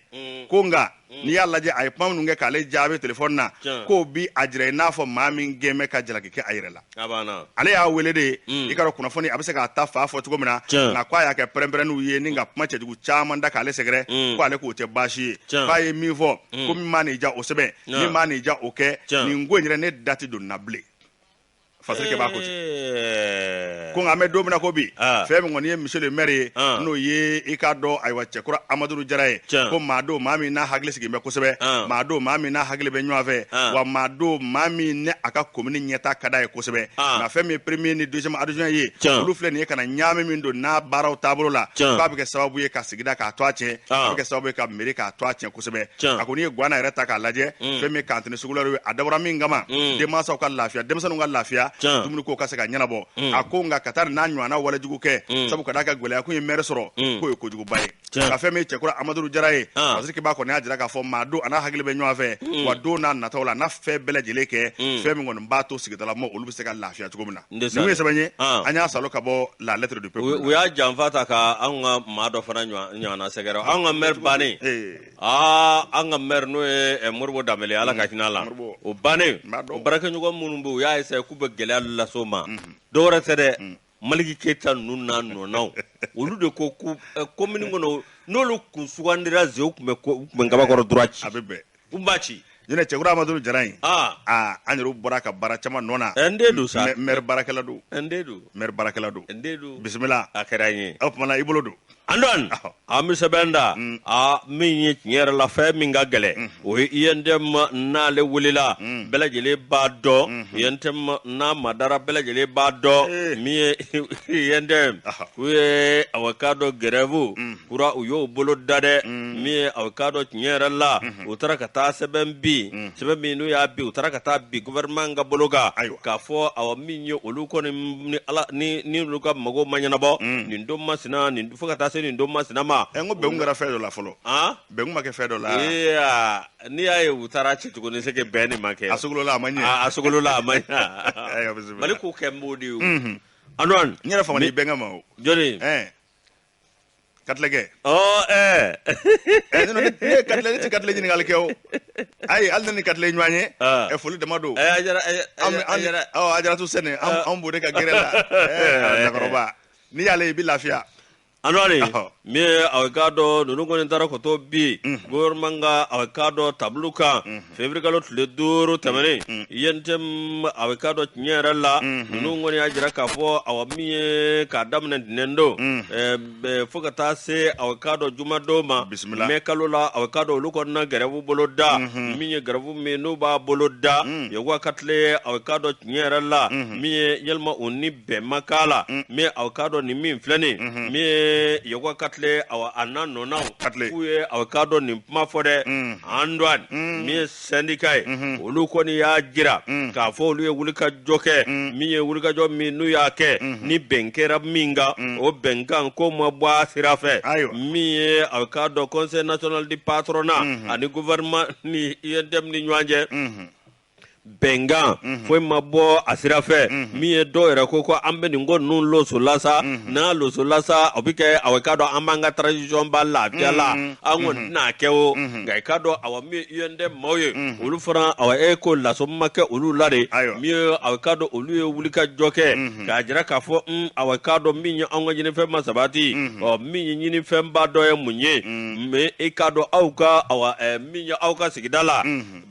ko nka Mm. n'i y'a lajɛ a ye kuma minnu kɛ k'ale jaabi telefɔni na k'o bi a jira i n'a fɔ maa min kɛlen bɛ ka jalaki kɛ a yɛrɛ la ale y'a wele de mm. i k'a dɔn kunnafoni a bɛ se k'a ta fan fɔ cogo min na nka ko a y'a kɛ pɛrɛnpɛrɛnniw ye ni ka kuma cɛjugu caman da k'ale sɛgɛrɛ mm. ko ale k'o tɛ baasi ye k'a ye min fɔ ko min man'i diya o sɛbɛn min man'i diya o kɛ nin ko in yɛrɛ ne da tɛ don na bilen fasiriki ba ko ten ko nka an bɛ don min na ko bi ah. fɛn min kɔni ye monsieur le maire ye ah. n'o ye i k'a dɔn ayiwa cɛkura amadun jara ye ko maa don maa min n'a hakili sigilen bɛ kosɛbɛ ah. maa don maa min n'a hakili bɛ ɲɔgɔn fɛ wa maa don maa min ni a ka komini ɲɛtaa ka d'a ye kosɛbɛ nka fɛn min ye premier ni deuxième adjoint ye olu filɛ nin ye ka na ɲaami min don n'a baaraw taabolo la k'a bɛ kɛ sababu ye ka sigida k'a tɔgɔ tiɲɛ ah. a bɛ kɛ sababu ye ka mɛri k'a tɔgɔ tiɲɛ kosɛbɛ a ko n'i ye guana yɛrɛ ta k'a lajɛ mm. fɛn min ye cantine scolaire ye a dabɔra min kama mm. denmansaw ka lafiya denmisɛnninw ka lafiya dumuni ko ka se ka ɲɛnabɔ mm. a ko nka ka taa n'a ɲɔgɔnna walejugu kɛ sabu ka d'a kan gɛlɛya kun ye mɛri sɔrɔ k'o ye kojuguba ye nka fɛn min ye cɛkura amadun jara ye ah. fasiriki ba kɔni y'a jira k'a fɔ maa don a n'a hakili bɛ ɲɔgɔn fɛ wa don n'a nataw la n'a fɛn bɛɛ lajɛlen kɛ fɛn min kɔni b'a to sigidalamaa olu bɛ se ka lafiya cogo min na N de Numu salen. ye sɛbɛn ye Ah. an y'a sɔrɔ ka bɔ la lettre du u peuple u y'a janfa ta ka anw ka maa dɔ fana ɲɔgɔn- ɲɔgɔnna sɛgɛrɛ anw ka maire bannen Ee. aa an ka maire n'o ye eh, moribo danbele ala ka hinɛ a la Moribo. o bannen N b'a dɔn. o baarakɛɲɔgɔn minnu bɛ yen, u y'a essayer k'u bɛ gɛlɛya lase o ma dɔwɛrɛ tɛ dɛ maliki keyita ninnu n'a nɔnaw olu de ko ko eh, commune kɔnɔ n'olu kun sugandira zew tun bɛ ko- u tun bɛ kabakɔrɔ droit ci a bɛ bɛn U b'a ci. Ɲinɛ cɛkura Amadou Jara in. Aa. Aa an yɛrɛw bɔr'a ka baara caman nɔ na. An den don sa. Mɛ maire baarakɛla don. An den don. Maire baarakɛla don. An den don. Bisimila. A kɛra an ye. O tuma na i bolo don. An dɔn. An bɛ sɛbɛn da. Mm. Aa min ye tiɲɛ yɛrɛ la fɛn min ka gɛlɛn. Mm. O ye UNTM n'ale wulila. Mm. Bɛɛ lajɛlen b'a dɔn. Mm-hmm. UNTM n'a madara bɛɛ lajɛlen b'a dɔn. Eh. Min ye UNTM. U ye aw k'a dɔn grève. kura u y'o bolo da dɛ mm. min ye aw k'a dɔn tiɲɛ yɛrɛ la mm-hmm. u taara ka taa sɛbɛn bi mm. sɛbɛn min n'u y'a bi u taara ka t'a bi gouvernement ka bolo kan k'a fɔ awa min ye olu kɔni ni ala ni ni olu ka mago ma ɲɛnabɔ mm. nin don masina nin fo ka taa se nin don masina ma ɛ eh, n ko bɛn kun kɛra fɛn dɔ la fɔlɔ an bɛn kun ma kɛ fɛn dɔ la n'i y'a ye u taara ci tuguni c'est que bɛn de ma kɛ a sogolola a ma ɲɛ a sogolola a ma ɲɛ mali k'u kɛ n b'o de ye o mm-hmm. anwan n yɛrɛ faamana i bɛnkɛ ma o jɔni katilɛ kɛ ɔ ɛɛ ɛ ne ne ye katilɛ ne tɛ katilɛ ɲininkali kɛ o ayi hali ne ni katilɛ ye ɲɔgɔn ye Ah. ɛ foli dama don ɛ a jara a jara- a an jara- a jara ɔ a jara tu sɛnɛ an an b'o de ka gɛrɛ la ɛ lakɔrɔba n'i y'ale ye i bɛ lafiya anwari Ɔhɔ. min ye aw k'a dɔn ninnu kɔni taara ko dɔ bi gouvernement ka aw k'a dɔn tabulu kan février kalo tile duuru tɛmɛnen mm, mm. UNTM a bɛ k'a dɔn tiɲɛ yɛrɛ la mm-hmm. ninnu kɔni y'a jira k'a fɔ awa min ye k'a daminɛ ntɛnɛn don mm. eh, eh, fo ka taa se a bɛ k'a dɔn jumadon ma mɛ kalo la a bɛ k'a dɔn olu kɔni na gɛrɛfu bolo da mm-hmm. min ye gɛrɛfu min n'u b'a bolo da yakuba katile a bɛ k'a dɔn tiɲɛ yɛrɛ la mm-hmm. min ye yalima o ni bɛn ma k'a la mm. min aw k'a dɔn nin min filɛ nin mm-hmm. min ye yakuba katile awa a n'a nɔnaw k'u ye aw k'a dɔn nin kuma fɔ dɛ mm. an dɔn mm. min ye sɛndika ye mm-hmm. olu kɔni y'a jira k'a fɔ olu ye wulikajɔ kɛ min ye wulikajɔ min n'u y'a kɛ mm-hmm. ni bɛn kɛra min kan o bɛnkan ko ma bɔ a sira fɛ min ye aw k'a dɔn conseil national du patronat ani gouvernement ni UNTM ni ɲɔgɔn cɛ bɛnkan mhm. foyi ma bɔ a sira fɛ mhm. min ye dɔw yɛrɛ ko ko an bɛ nin ko ninnu losola sa mhm. n'a losola sa o bɛ kɛ awa k'a dɔn an b'an ka transition ban lafiya la an kɔni tɛna a kɛ o nka i k'a dɔn awa min ye UNTM maaw ye olu fana awa e ko laso ma kɛ olu la de min ye awa k'a dɔn olu ye wulikajɔ kɛ k'a jira k'a fɔ un awa k'a dɔn min ye an ka ɲinifɛn ma sabati ɔ min ye ɲinifɛnba dɔ ye mun ye mais i k'a dɔn aw ka awa min ye aw ka sigida la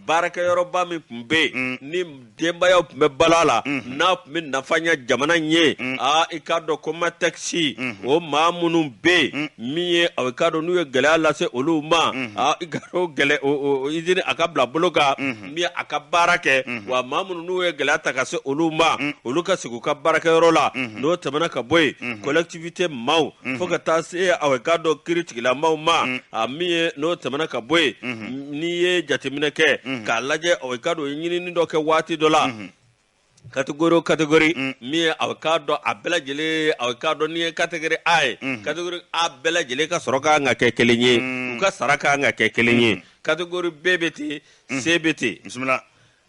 baarakɛyɔrɔba min tun bɛ yen mm. ni denbayaw tun bɛ balo a la mm-hmm. n'a tun bɛ nafa ɲɛ jamana ɲɛ mm. aa i k'a dɔn komatɛkisi mm-hmm. o maa minnu bɛ yen mm. min ye aw i k'a dɔn n'u ye gɛlɛya lase olu ma mm-hmm. aa i ka o gɛlɛ o o izini a ka bila bolo kan min a ka baara kɛ wa maa minnu n'u ye gɛlɛya ta ka se olu ma olu ka segin u ka baarakɛyɔrɔ la n'o tɛmɛna ka bɔ yen tibite maaw fo ka taa se aw k'a dɔn kiritigɛla maaw ma a min ye n'o tɛmɛna ka bɔ yen n'i ye jateminɛ kɛ k'a lajɛ aw k'a dɔn ɲinini dɔ kɛ waati dɔ la kategori o kategori min ye aw k'a dɔn a bɛɛ lajɛlen aw k'a dɔn n'i ye kategori a ye kategori a bɛɛ lajɛlen ka sɔrɔ ka kan ka kɛ kelen ye u ka sara ka kan ka kɛ kelen ye kategori b bɛ ten c bɛ ten bisimila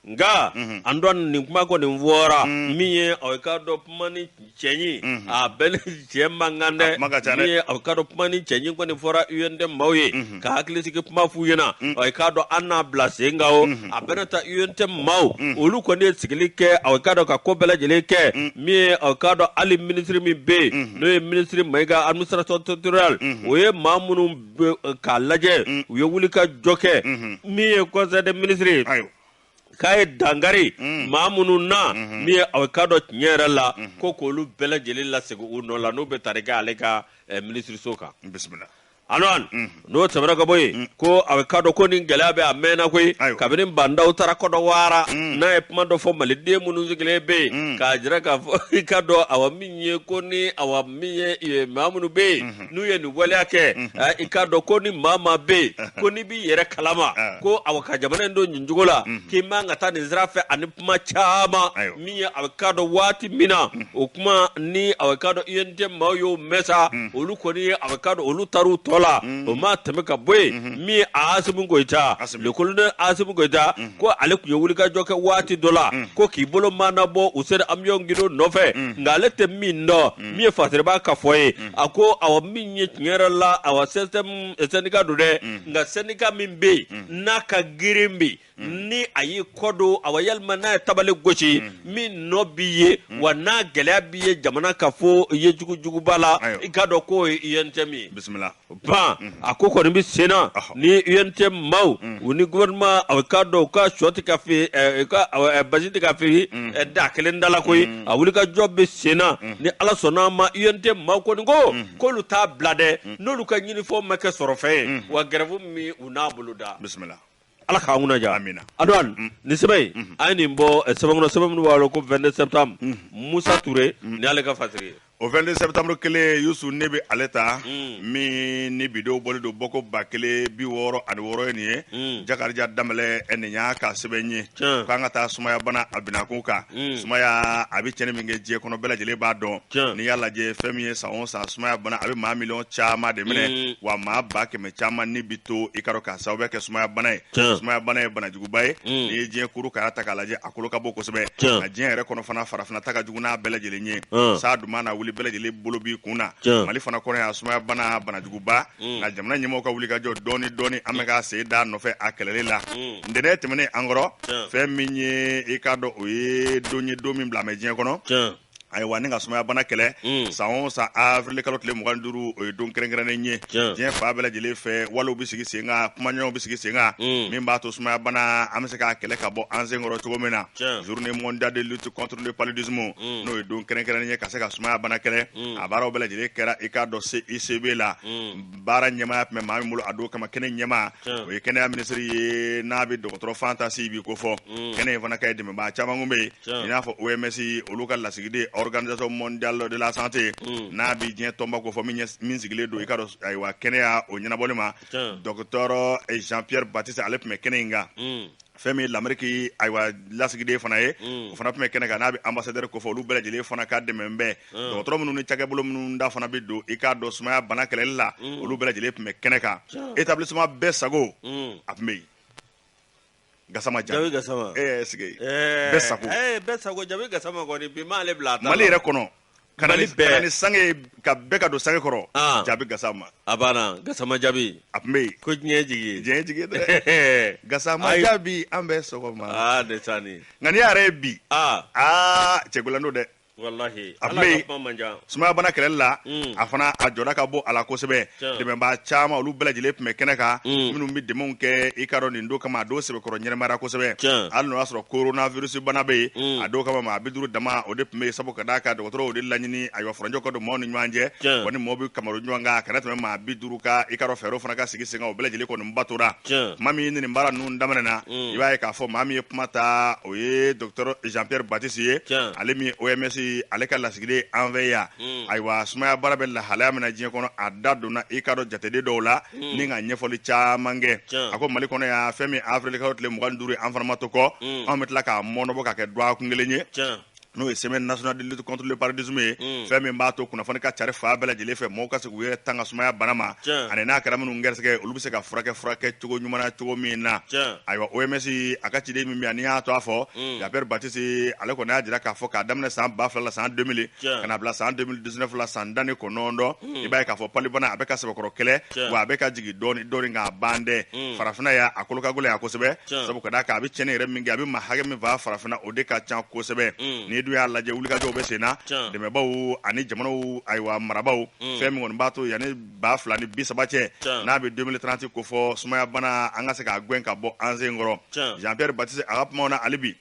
nka mhm. an dɔn nin kuma kɔni fɔra mhm. min ye aw ka dɔn kuma ni cɛɲi mhm. a bɛɛ ni cɛ man kan dɛ min ye aw ka dɔn kuma ni cɛɲi kɔni fɔra UNT maaw ye ka hakilisigi kuma f'u ɲɛna aw ka dɔn an n'a bila sen kan o a bɛɛ na taa UNT maaw olu kɔni ye sigili kɛ aw ka dɔn ka ko bɛɛ lajɛlen kɛ min ye aw ka dɔn hali minisiri min bɛ yen n'o ye minisiri Mayiga administration territoriale o ye maa minnu k'a lajɛ mm. u ye wuli ka jɔ kɛ mm-hmm. min ye conseil des ministres ye k'a ye dangari mm. maa minnu na mm-hmm. min ye aw ka dɔn tiɲɛ yɛrɛ la mm-hmm. ko k'olu bɛɛ lajɛlen lasegin u nɔ la n'u bɛ tali kɛ ale ka eh, minisiriso kan alɔn n'o tɛmɛna ka bɔ yen ko aw ka dɔn ko nin gɛlɛya bɛ a mɛnna koyi kabini Ba Ndaw taara Côte d'Ivoire n'a ye kuma dɔ fɔ maliden minnu sigilen bɛ yen k'a jira k'a fɔ i ka dɔn awa min ye ko ni awa min ye maa minnu bɛ yen n'u ye nin waleya kɛ eh, i k'a dɔn ko ni maa maa bɛ yen ko n'i b'i yɛrɛ kalama ah. ko awa ka jamana in don nin cogo la mhm. k'i man ka taa nin sira fɛ ani kuma caman min ye awa k'a dɔn waati min na mhm. o kuma ni awa k'a dɔn UNT maaw y'o mɛn sa mhm. olu kɔni ye awa k'a dɔn olu taar'u tɔ la o maa tɛmɛ ka bɔ yen min ye Asimu Goyita le colonel Asimu Goyita ko ale tun ye wulikajɔ kɛ waati dɔ la ko k'i bolo maanabɔ Useyini Amiyɔn Gindo nɔfɛ nka ale tɛ min dɔn min ye fasiribaa ka fɔ ye a ko awa min ye tiɲɛ yɛrɛ la awa CSTM sɛndika don dɛ nka sɛndika min bɛ yen n'a ka girin bɛ ni a y'i kɔdon awa walima n'a ye tabali gosi min nɔ bi ye wa n'a gɛlɛya bi ye jamana ka fɔ i ye jugujuguba la i ka dɔn k'o ye UNTM ye bisimila ban a ko kɔni bɛ senna ni UNT maaw u ni gouvernement a k'a dɔn u ka shɔ tɛ ka feere ka basi tɛ ka feere da kelen da la koyi a wuli ka jɔ bɛ senna ni ala sɔnna a ma UNT maaw kɔni ko k'olu t'a bila dɛ n'olu ka ɲinifɛnw ma kɛ sɔrɔfɛn ye wa gɛrɛfu min u n'a boloda bisimila ala k'an kunna diya Amina. Antoine nin sɛbɛn in a ye nin bɔ eh, sɛbɛn kɔnɔ sɛbɛn min u b'a wele ko 22 septembre Musa Ture ni ale ka fasiri ye o 22 septembre kelen yusu ne bɛ ale ta min ni bidenw bɔlen don bɔko ba kelen bi wɔɔrɔ ani wɔɔrɔ ye nin ye Mm. Jakarija Danbɛlɛ eh, nin y'a ka sɛbɛn ye Tiɲɛ. k'an ka taa sumayabana a binakun kan Mm. sumaya a bɛ cɛnni min kɛ diɲɛ kɔnɔ bɛɛ lajɛlen b'a dɔn Tiɲɛ. n'i y'a lajɛ fɛn min ye san o san sumayabana a bɛ maa miliyɔn caman de minɛ Mm. wa maa ba kɛmɛ caman ni bi to i ka dɔn k'a sababu kɛ sumaya bana ye sumaya bana ye banajuguba ye mm. n'i ye diɲɛ kuru k'a ta k'a lajɛ a kolo ka bon kosɛbɛ nka diɲɛ yɛrɛ kɔnɔ fana farafinna ta ka jugu n'a bɛɛ lajɛlen ye mm. saa dun mana wuli bɛɛ lajɛlen bolo b'i kun na mali fana kɔnɔ yan sumaya bana banajuguba mm. nka jamana ɲɛmɔgɔw ka wuli ka jɔ dɔɔni dɔɔni an bɛ ka sen da nɔfɛ a kɛlɛli la ntɛnɛn tɛmɛnen an kɔrɔ fɛn min ye i k'a dɔn o ye don ye don min bilalen bɛ diɲɛ kɔnɔ ayiwa ni ka sumayabana kɛlɛ mm. san o san avril kalo tile mugan duuru o ye don kɛrɛnkɛrɛnnen ye diɲɛ fan bɛɛ lajɛlen fɛ walew bɛ sigi sen kan kumaɲɔgɔnw bɛ sigi sen kan mm. min b'a to sumayabana an bɛ se k'a kɛlɛ ka bɔ an sen kɔrɔ cogo min na journée mondiale de lutte contre le paludisme mm. n'o ye don kɛrɛnkɛrɛnnen ye ka se ka sumayabana kɛlɛ a baaraw bɛɛ lajɛlen kɛra i k'a dɔn CICB la baara ɲɛmaaya tun bɛ maa min bolo a don kama kɛnɛ ɲɛmaa o ye kɛnɛya minisiri ye n'a bɛ dɔgɔtɔrɔ Fanta Siby ko fɔ kɛnɛ in fana kan ye dɛmɛbaa caman tun bɛ yen i n'a fɔ OMS olu ka lasigiden Organisation mondiale de la santé n'a bɛ diɲɛ tɔnba ko fɔ min sigilen don i k'a dɔn ayiwa kɛnɛyako ɲɛnabɔli ma docteur Jean-Pierre Baptiste ale tun bɛ kɛnɛ in kan fɛn min Ameriki ayiwa lasigiden fana ye o fana tun bɛ kɛnɛ kan n'a bɛ ambassadeur ko fɔ olu bɛɛ lajɛlen fana ka dɛmɛ bɛɛ dɔgɔtɔrɔ minnu ni cakɛbolo minnu da fana bɛ don i k'a dɔn sumayabana kɛlɛli la olu bɛɛ lajɛlen tun bɛ kɛnɛ kan établissement bɛɛ sago a tun bɛ yen gasama jabi gasama ɛɛ sigi ɛɛ bɛɛ sago ɛɛ bɛɛ sago jabi gasama kɔni bi m'ale bila a ta Mali yɛrɛ kɔnɔ ka na ni sange ye ka bɛɛ ka don sange kɔrɔ Ah. jabi gasama a banna gasama jabi a tun bɛ yen ko diɲɛ jigi diɲɛ jigi dɛ gasama jabi an bɛ sɔgɔma aa ne taa ni nka n'i y'a yɛrɛ ye bi aa aa cɛkolando dɛ sumayabana kɛlɛli la mm. a fana a jɔda ka bon a la kosɛbɛ dɛmɛbaa caman olu bɛɛ lajɛlen tun bɛ kɛnɛ kan mm. minnu bɛ dɛmɛw kɛ i k'a dɔn nin don kama a don sɛbɛkɔrɔ ɲɛnamayara kosɛbɛ hali n'o y'a sɔrɔ coronavirus bana bɛ yen mm. a don kama maa bi duuru dama o de tun bɛ yen sabu ka d'a kan dɔgɔtɔrɔw y'o de laɲini ayiwa furancɛ ka don maaw ni ɲɔgɔn cɛ wa ni maaw bɛ ka maro ɲɔgɔn kan a kana tɛmɛ maa bi duuru kan i k'a dɔn fɛɛrɛw fana ka sigi sen kan o bɛɛ lajɛlen kɔni batora maa min nin baara ninnu daminɛ na mm. i b'a ye k'a fɔ maa min ye kuma ta o ye docteur Jean-Pierre Baptiste ye ale min ye OMS ale ka lasigiden an fɛ yan mm. ayiwa sumaya baara bɛ lahalaya min na diɲɛ kɔnɔ a da donna i k'a dɔn jateden dɔw la mm. ni ka ɲɛfɔli caman kɛ a ko mali kɔnɔ yan fɛn min avril kalo tile mugan duuru ye an fana ma to kɔ anw bɛ tila k'a mɔnɔbɔ ka kɛ dɔgɔkun kelen ye n'o ye semaine nationale de lutte contre le paludisme ye fɛn min b'a to kunnafoni ka cari fan bɛɛ lajɛlen fɛ mɔgɔw ka se k'u yɛrɛ tanga sumayabana ma ani n'a kɛra minnu gɛrɛsɛgɛ olu bɛ se ka furakɛ furakɛ cogo ɲuman na cogo min na ayiwa OMS a ka ciden min bɛ yan n'i y'a tɔgɔ fɔ Jean-Pierre Baptiste ale kɔni y'a jira k'a fɔ k'a daminɛ san ba fila la san 2000 ka na bila san 2019 la san tan ni kɔnɔntɔn i b'a ye k'a fɔ palubana a bɛ ka sɛbɛkɔrɔ kɛlɛ wa a bɛ ka jigin dɔɔnin dɔɔnin ka ban dɛ farafinna yan a kolo ka gɛlɛn yan kosɛbɛ sabu ka d'a kan a bɛ cɛnni yɛrɛ min kɛ a bɛ maa hakɛ min faa farafinna o de ka ca kosɛbɛ mm. n'i dun y'a lajɛ wulikajɔw bɛ sen na dɛmɛbaaw ani jamanaw ayiwa marabaw mm. fɛn min kɔni b'a to yanni ba fila ni bi saba cɛ n'a bɛ 2030 ko fɔ sumayabana an ka se k'a gɛn ka bɔ an sen kɔrɔ Jean-Pierre Baptiste a ka kumaw na hali bi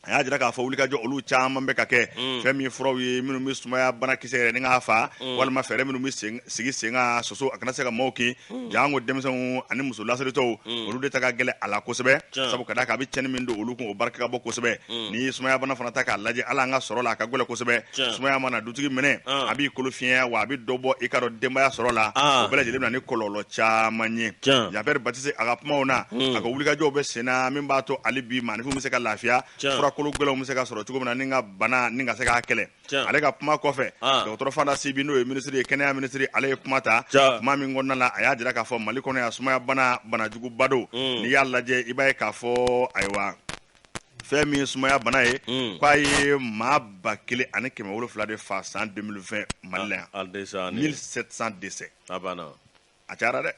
a y'a jira k'a fɔ wulikajɔ olu caman bɛ ka kɛ mm. fɛn min furaw ye minnu bɛ sumaya banakisɛ yɛrɛ ni k'a fa mm. walima fɛɛrɛ minnu bɛ sigi sen kan soso a kana se ka maaw kin mm. janko denmisɛnw ani muso lasiritɔw olu de ta ka gɛlɛ a la kosɛbɛ sabu ka d'a kan a bɛ cɛnni min don olu kun o barika ka bɔ kosɛbɛ ni sumaya bana fana ta k'a lajɛ hali an ka sɔrɔ la a ka gɛlɛ kosɛbɛ sumaya mana dutigi minɛ a b'i kolo fiɲɛya wa a bɛ dɔ bɔ i k'a dɔn denbaya sɔrɔ la o bɛɛ lajɛlen bɛ na ni kɔlɔlɔ caman ye jean-pierre baptiste a ka kumaw na a ka wulikajɔw bɛ senna min b'a to hali bi maaninfin bɛ se ka lafiya furakolo gɛlɛnw bɛ se ka sɔrɔ cogo min na ni ka bana ni ka se k'a kɛlɛ ale ka kuma kɔfɛ dɔgɔtɔrɔ fanta sibi n'o ye minisiri ye kɛnɛya minisiri ale ye kuma ta kuma min kɔnɔna na a y'a jira k'a fɔ mali kɔnɔ yan sumaya bana banajuguba don n'i y'a lajɛ i b'a ye k'a fɔ ayiwa fɛn min ye sumaya bana ye mm. k'a ye maa ba kelen ani kɛmɛ wolonwula de fa san 2020 mali la yan 1700 décès a banna a cayara dɛ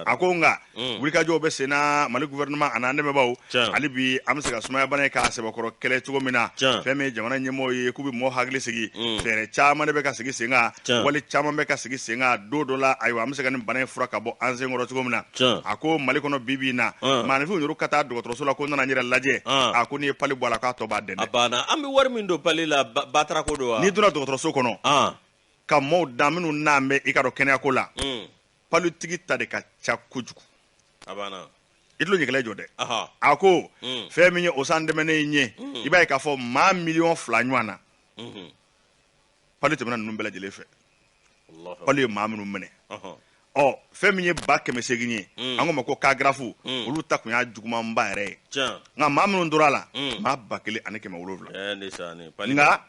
a ko nka mm. wulikajɔw bɛ sen na mali gouvernement an'an dɛmɛbaaw hali bi an bɛ se ka sumaya bana ye k'a sɛbɛkɔrɔ kɛlɛ cogo min na fɛn min ye jamana ɲɛmɔgɔw ye k'u bɛ mɔgɔ hakili sigi mm. fɛɛrɛ caman de bɛ ka sigi sen kan wali caman bɛ ka sigi sen kan don dɔ la ayiwa an bɛ se ka nin bana in fura ka bɔ an senkɔrɔ cogo min na a ko mali kɔnɔ bi bi in na maaninfinw yɛrɛ ka taa dɔgɔtɔrɔso la ko n nana n yɛrɛ lajɛ a ko n'i ye pali bɔ a la k'a tɔ b'a dɛmɛ a banna an bɛ wari min don pali la batara ko don wa n'i donna dɔgɔtɔrɔso kɔnɔ ka maaw dan minnu nanen bɛ i k'a dɔn kɛnɛyako la palitigi ta de ka ca kojugu a banna i tulo ɲɛgɛlɛ jɔ dɛ a ko fɛn min ye o san tɛmɛnen in ye i b'a ye k'a fɔ maa miliyɔn fila ɲɔgɔn na pali tɛmɛna ninnu bɛɛ lajɛlen fɛ pali ye maa minnu minɛ ɔ fɛn min ye ba kɛmɛ segin ye mm. an k'o ma ko cas graves mm. olu ta kun y'a jugumanba yɛrɛ ye nka maa minnu tora a la mm. maa ba kelen ani kɛmɛ wolonwula eh, nka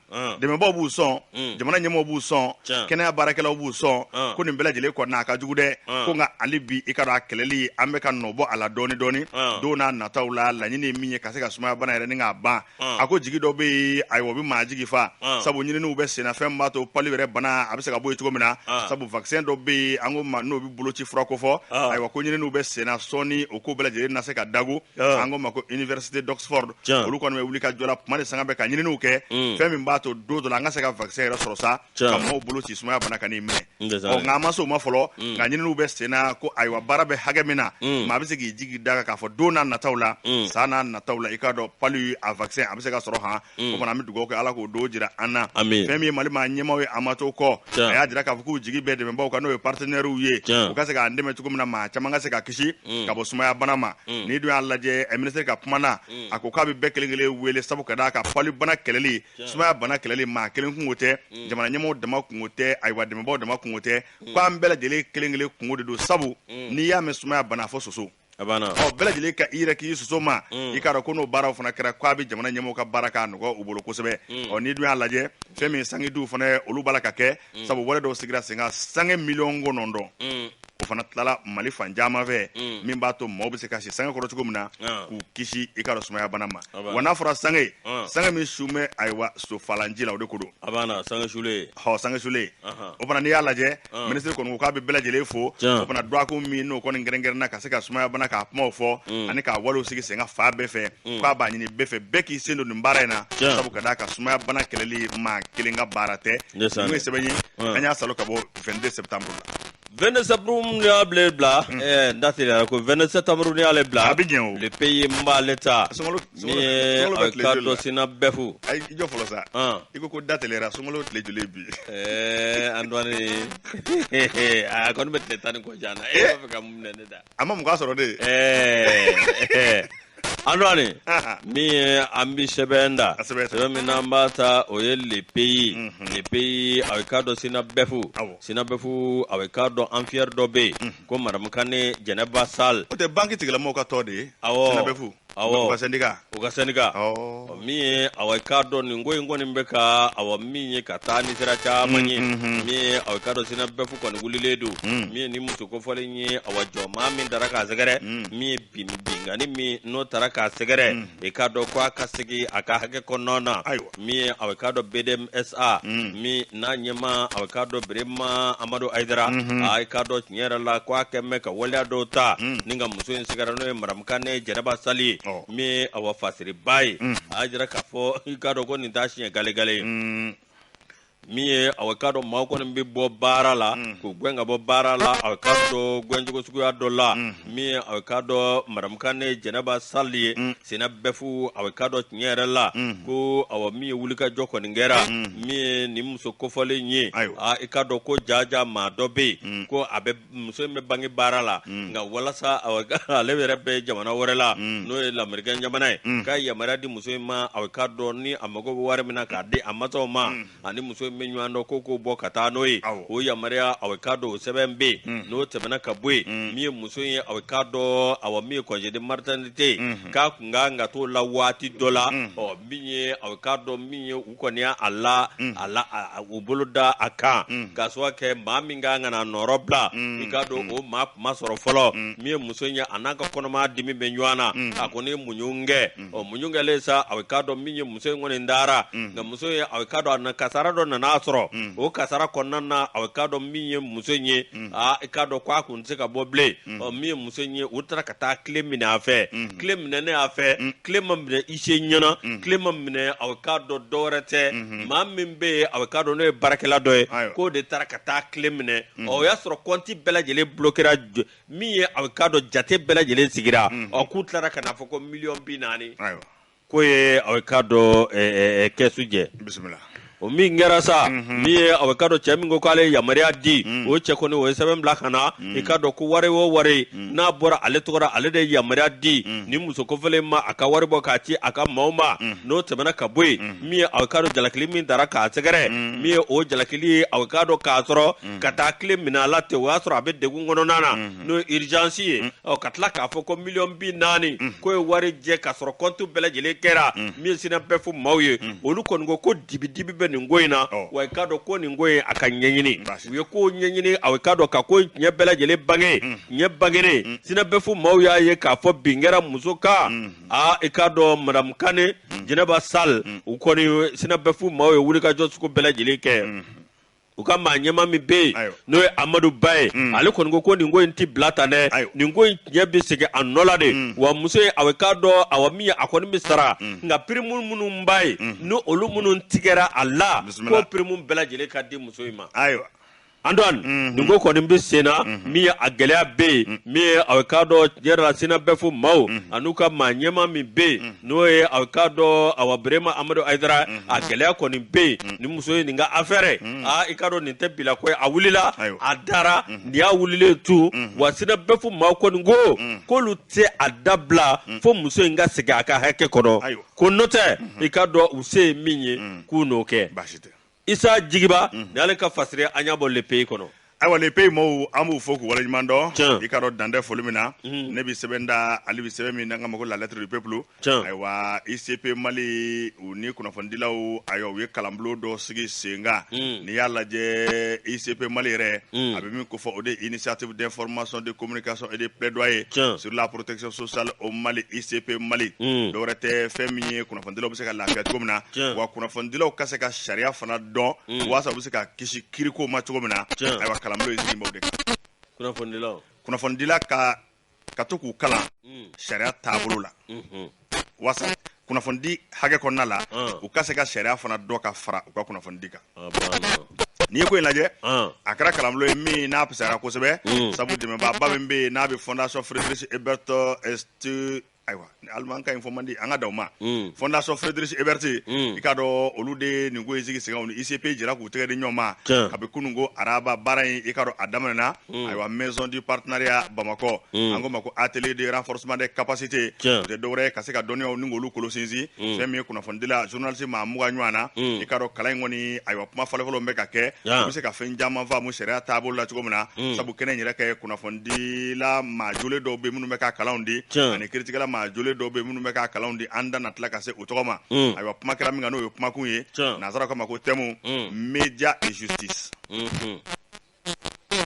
dɛmɛbaw b'u sɔn jamana ɲɛmɔgɔ b'u sɔn kɛnɛya baarakɛlaw b'u sɔn ko nin bɛɛ lajɛlen kɔnɔna a ka jugu dɛ ko nka hali bi i k'a dɔn a kɛlɛli an bɛ ka nɔbɔ a la dɔɔni dɔɔni don n'a nataw la laɲini ye min ye ka se ka sumayabana yɛrɛ ni k'a ban Mm. a ko jigi dɔ bɛ yen ayiwa o bɛ maa jigi fa Mm. sabu ɲininiw bɛ senna fɛn min b'a to pali yɛrɛ bana a bɛ se ka bɔ yen cogo min na Mm. sabu vaccin dɔ bɛ yen an ko ma n'o bɛ boloci fura kofɔ Mm. ayiwa ko ɲininiw bɛ senna sɔɔni o ko bɛɛ lajɛlen na se ka dagun Mm. an k'o ma ko université d'oxford Tiɲɛ. olu kɔni bɛ wulikajɔ la kuma de sanga bɛɛ ka ɲininiw kɛ Mm. fɛn min b'a to don dɔ la an ka se ka vaccin yɛrɛ sɔrɔ sa ka maaw boloci sumaya bana kan'i minɛ ɔ nka an ma se o ma fɔlɔ mm. nka ɲininiw bɛ sen na ko ayiwa baara bɛ hakɛ min na mm. maa bɛ se k'i jigi d'a kan k'a fɔ don n'a nataw la mm. san n'a nataw la i k'a dɔn pali a vaccin a bɛ se ka sɔrɔ han o fana an bɛ dugawu kɛ ala k'o don jira an na fɛn min ye mali maa ɲɛmaaw ye a ma to kɔ a y'a jira k'a fɔ k'u jigi bɛ dɛmɛbaaw kan n'o ye partenaires ye u ka se k'an dɛmɛ cogo min na maa caman ka se ka kisi ka bɔ sumaya bana ma n'i dun y'a lajɛ eh, minisiri ka kuma na a ko k'a bɛ bɛɛ kelen kelen wele sabu ka d'a kan pali bana kɛlɛli sumaya bana kɛlɛli maa kelen kungo tɛ mm. jamana ɲɛmɔgɔw dama kungo tɛ ayiwa dɛmɛbaaw dama kungo tɛ mm. ko an bɛɛ lajɛlen kelen kelen kungo de don sabu mm. n'i y'a mɛn sumaya bana fɔ soso ɔ bɛɛ lajɛlen ka i yɛrɛ kisi soso ma i k'a dɔn ko n'o baaraw fana kɛra ko a bɛ jamana ɲɛmɔgɔw ka baara k'a nɔgɔ u bolo kosɛbɛ ɔ n'i dun y'a lajɛ fɛn min sangediw fana olu b'a la ka kɛ mm. sabu wale dɔw sigira sen kan sange miliyɔn kɔnɔntɔn mm. o fana tilala mali fan caman fɛ mm. min b'a to maaw bɛ se ka si sange kɔrɔ cogo min na ah. k'u kisi i k'a dɔn sumaya bana ma ah, wa n'a fɔra sange ah. sange min su bɛ ayiwa sofalanji la o de ko don sange sulen hɔ sange sulen o fana n'i y'a lajɛ minisiri kɔni ko k'a bɛ bɛɛ lajɛlen fo o fana dɔgɔkun min n'o kɔni kɛrɛnkɛrɛnna ka se ka sumaya bana k'a kumaw fɔ ani k'a walew sigi sen kan fan bɛɛ fɛ k'a b'a ɲini bɛɛ fɛ bɛɛ k'i sen don nin baara in na sabu ka d'a kan sumaya bana kɛlɛli maa kelen ka baara tɛ n'o ye sɛbɛn ye an y'a salo ka bɔ 22 septembre la 22 septembre ni y'a bila bila hmm. eh, n da teliyara ko 22 septembre ni y'ale bila a bɛ jɛn o le pays n b'ale ta n'i k'a dɔn SYNABEF ayi i jɔ fɔlɔ sa i ko ko da teliyara sunkalo tile joli bi ɛɛ eh, Antoine a kɔni bɛ tile tan ni kɔ jan na e b'a fɛ ka mun minɛ ne da A ma mugan sɔrɔ dɛ. Ɛɛ Antoine min ye an bi sɛbɛn da sɛbɛn min n'an b'a ta o ye le pays le pays a bɛ k'a dɔn SYNABEF SYNABEF a bɛ k'a dɔn affaire dɔ bɛ yen ko madame Kane Jɛnɛba Sall o tɛ banque tigilamɔgɔw ka tɔn de ye SYNABEF. min ye aw k'a dɔn nin ko in kɔni bɛ ka awa min ye ka taa ni sira caman ye min ye aw k'a dɔn SYNABEF kɔni wulilen don min ye nin muso kofɔlen ye aw jɔ maa min taara k'a sɛgɛrɛ min ye binkanni min n'o taara k'a sɛgɛrɛ i k'a dɔn ko a ka segin a ka hakɛ kɔnɔna na ayiwa min ye a bɛ k'a dɔn BDMSA min n'a ɲɛmaa a bɛ k'a dɔn Berema Amadu Hayidara a ye k'a dɔn tiɲɛ yɛrɛ la ko a kɛlen bɛ ka waleya dɔw ta ni ka muso in sɛgɛrɛ n'o ye Madamu Kane Jɛnɛba Sali ye min ye awa fasiriba ye a y'a jira k'a fɔ i k'a dɔn ko nin t'a siɲɛ galegale ye. min ye aw k'a dɔn maaw kɔni bɛ bɔ baara la k'u gɛn ka bɔ baara la aw k'a dɔn gɛncogo suguya dɔ la min ye aw k'a dɔn madamu Kane jɛnɛba sali ye SYNABEF a k'a dɔn tiɲɛ yɛrɛ la ko awa min ye wulikajɔ kɔni kɛra min ye nin muso kofɔlen ye i k'a dɔn ko jaja maa dɔ bɛ yen ko a bɛ muso in bɛ banki baara la mm. nka walasa ale yɛrɛ bɛ jamana wɛrɛ la mm. n'o ye lamerikɛn jamana ye mm. ka yamaruya di muso in ma a k'a dɔn ni a mago bɛ wari min na k'a di a masaw ma ani muso in bɛ ɲɔgɔn dɔn ko k'o bɔ ka taa n'o ye o yamaruya a k'a dɔn o sɛbɛn bɛ yen n'o tɛmɛna ka bɔ yen min ye muso in ye a k'a dɔn awa min ye congé de maternité ye mm-hmm. k'a kun ka kan ka t'o la waati dɔ la ɔ min ye a k'a dɔn min ye u kɔni y'a a la mm. a la u bolo da a kan mm. ka choix kɛ maa min ka kan ka na nɔrɔ bila mm. i k'a dɔn o maa kun ma sɔrɔ fɔlɔ min ye muso ye a n'a ka kɔnɔmaya dimi bɛ ɲɔgɔn na a kɔni muɲun kɛ ɔ muɲun kɛlen sa a bɛ k'a dɔn min ye muso in kɔni dara nka muso ye a bɛ k'a dɔn a na kasara dɔ nan'a sɔrɔ o kasara kɔnɔna na a bɛ k'a dɔn min ye muso in ye aa i k'a dɔn ko a kun tɛ se ka bɔ bilen ɔ min ye muso in ye u taara ka taa kile minɛ a fɛ kile minɛnen a fɛ kile ma minɛ huissier ɲɛna kile ma minɛ a k'a dɔn dɔwɛrɛ tɛ maa min bɛ yen a k'a dɔn n'o ye baarakɛla dɔ ye Ayiwa. k'o de taara ka taa kile minɛ ɔ o y'a sɔrɔ kɔnti bɛɛ lajɛlen bulokera jo- min ye a k'a dɔn jate bɛɛ lajɛlen sigira ɔ k'u tilara ka n'a fɔ ko miliyɔn bi naani Ayiwa. k'o ye aw ye k'a dɔn kɛsu jɛ bisimila o min kɛra sa min ye aw ye k'a dɔn cɛ min ko k'ale ye yamaruya di o cɛ kɔni o ye sɛbɛn bila ka na i k'a dɔn ko wari o wari n'a bɔra ale tɔgɔ la ale de ye yamaruya di ni muso kofɔlen ma a ka wari bɔ k'a ci a ka maaw ma n'o tɛmɛna ka bɔ yen min ye aw ye k'a dɔn jalakili min taara k'a sɛgɛrɛ min ye o jalakili ye aw ye k'a dɔn k'a sɔrɔ ka taa kile minɛ a la ten o y'a sɔrɔ a bɛ degun kɔnɔna na n'o ye urgence ye ɔ ka tila k'a fɔ ko miliyɔn bi naani k'o ye wari jɛ ka sɔrɔ kɔntu bɛɛ lajɛlen kɛra min synabef maaw ye olu kɔni ko ko dibidibi bɛ nin ko in na Ɔ. wa i k'a dɔn ko nin ko in a ka ɲɛɲini Baasi. u ye ko ɲɛɲini aw ye k'a dɔn ka ko in tiɲɛ bɛɛ lajɛlen bange tiɲɛ bangenen synabef maaw y'a ye k'a fɔ bin kɛra muso kan aa i k'a dɔn madamu kane jɛnɛba sal u kɔni synabef maaw ye wulikajɔ sugu bɛɛ lajɛlen kɛ u ka maa ɲɛma min bɛ yen n'o ye amadu ba ye mm. ale kɔni ko ko nin ko in tɛ bila tan dɛ nin ko in tiɲɛ bɛ segin a nɔ la de mm. wa muso in a bɛ k'a dɔn awa min ye a kɔni bɛ sara mm. nka pirimu minnu b'a ye ni olu minnu tigɛra a la ko pirimu bɛɛ lajɛlen ka di muso in ma ayiwa antoine mm-hmm. nin ko kɔni bɛ sen na mm-hmm. min ye a gɛlɛya bɛ yen mm-hmm. min ye a bɛ k'a dɔn tiɲɛ yɛrɛ la synabef maaw an'u ka maa ɲɛma min bɛ yen n'o ye a k'a dɔn awa birema amadu ayidara mhm. a gɛlɛya kɔni bɛ yen mhm. nin muso in nin ka affaire mhm. aa i k'a dɔn nin tɛ bilako ye a wulila a dara nin y'a wulilen to wa synabef maaw kɔni ko k'olu tɛ a dabila fo muso in ka segin a ka hakɛ kɔnɔ ko n'o tɛ i k'a dɔn u se ye min ye k'u n'o kɛ isa jigiba mhm. ni ale ka fasire an y'a bɔ le pays kɔnɔ ayiwa le pays mɔɔw an b'u fo k'u waleɲuman dɔn i k'a dɔn dan tɛ foli min na mhm. ne bi sɛbɛn da ale bi sɛbɛn min n'an k'a ma ko la lettre du peuple ayiwa icp mali u ni kunnafonidilaw ayiwa u ye kalanbolo dɔ sigi sen kan mhm. n'i y'a lajɛ icp mali yɛrɛ a bɛ min kofɔ o de ye initiative d'information de communication et de plaidoyer sur la protection sociale au mali icp mali dɔwɛrɛ tɛ fɛn min ye kunnafonidilaw bɛ se ka lafiya cogo min na Tiɲɛ. wa kunnafonidilaw ka se ka sariya fana dɔn Mm. walasa u bɛ se ka kisi kiriko ma cogo min na Tiɲɛ. ayiwa kalanbulon in sigi b'o de kan kunnafonidilaw kunnafonidila ka ka to k'u kalan Mm. sariya taabolo la Mhm. walasa kunnafonidi hakɛ kɔnɔna la Ah. u ka se ka sariya fana dɔ ka fara u ka kunnafonidi kan a banna n'i ye ko in lajɛ Ah. a kɛra kalanbulon ye min n'a fisayara kosɛbɛ Mm. sabu dɛmɛbaaba min bɛ yen n'a bɛ fondation Friedrich Ebert stu ayiwa alimankan fɔ man di an ka daw ma mm. fondation Friedrich Ebert mm. i k'a dɔn olu de ye nin ko in sigi senkan ni ICP jɛra k'u tɛgɛ di ɲɔgɔn ma kabi kunun ko araba baara in i k'a dɔn a daminɛna mm. ayiwa maison du partenariat bamakɔ an k'o ma ko atelier de renforcement des capacités o tɛ dɔwɛrɛ ye ka se ka dɔnniyaw ni k'olu kolo sinsin fɛn min ye kunnafonidila journaliste maa mugan ɲɔgɔn na i k'a dɔn kalan in kɔni ayiwa kuma fɔlɔfɔlɔ bɛ ka kɛ u bɛ se ka fɛn caman faamu sariya taabolo la cogo min na sabu kɛnɛ in yɛrɛ kan kunnafoni dila maa jolen dɔw bɛ minnu bɛ ka kalanw di Tiɲɛ. ani kiritigɛla maa jolen dɔw bɛ minnu bɛ ka kalanw di an da na tila ka se o tɔgɔ ma Mm. ayiwa kuma kɛra min kan n'o ye kumakun ye Tiɲɛ. nanzaraw k'a ma ko thème Mm. média et justice Mhm.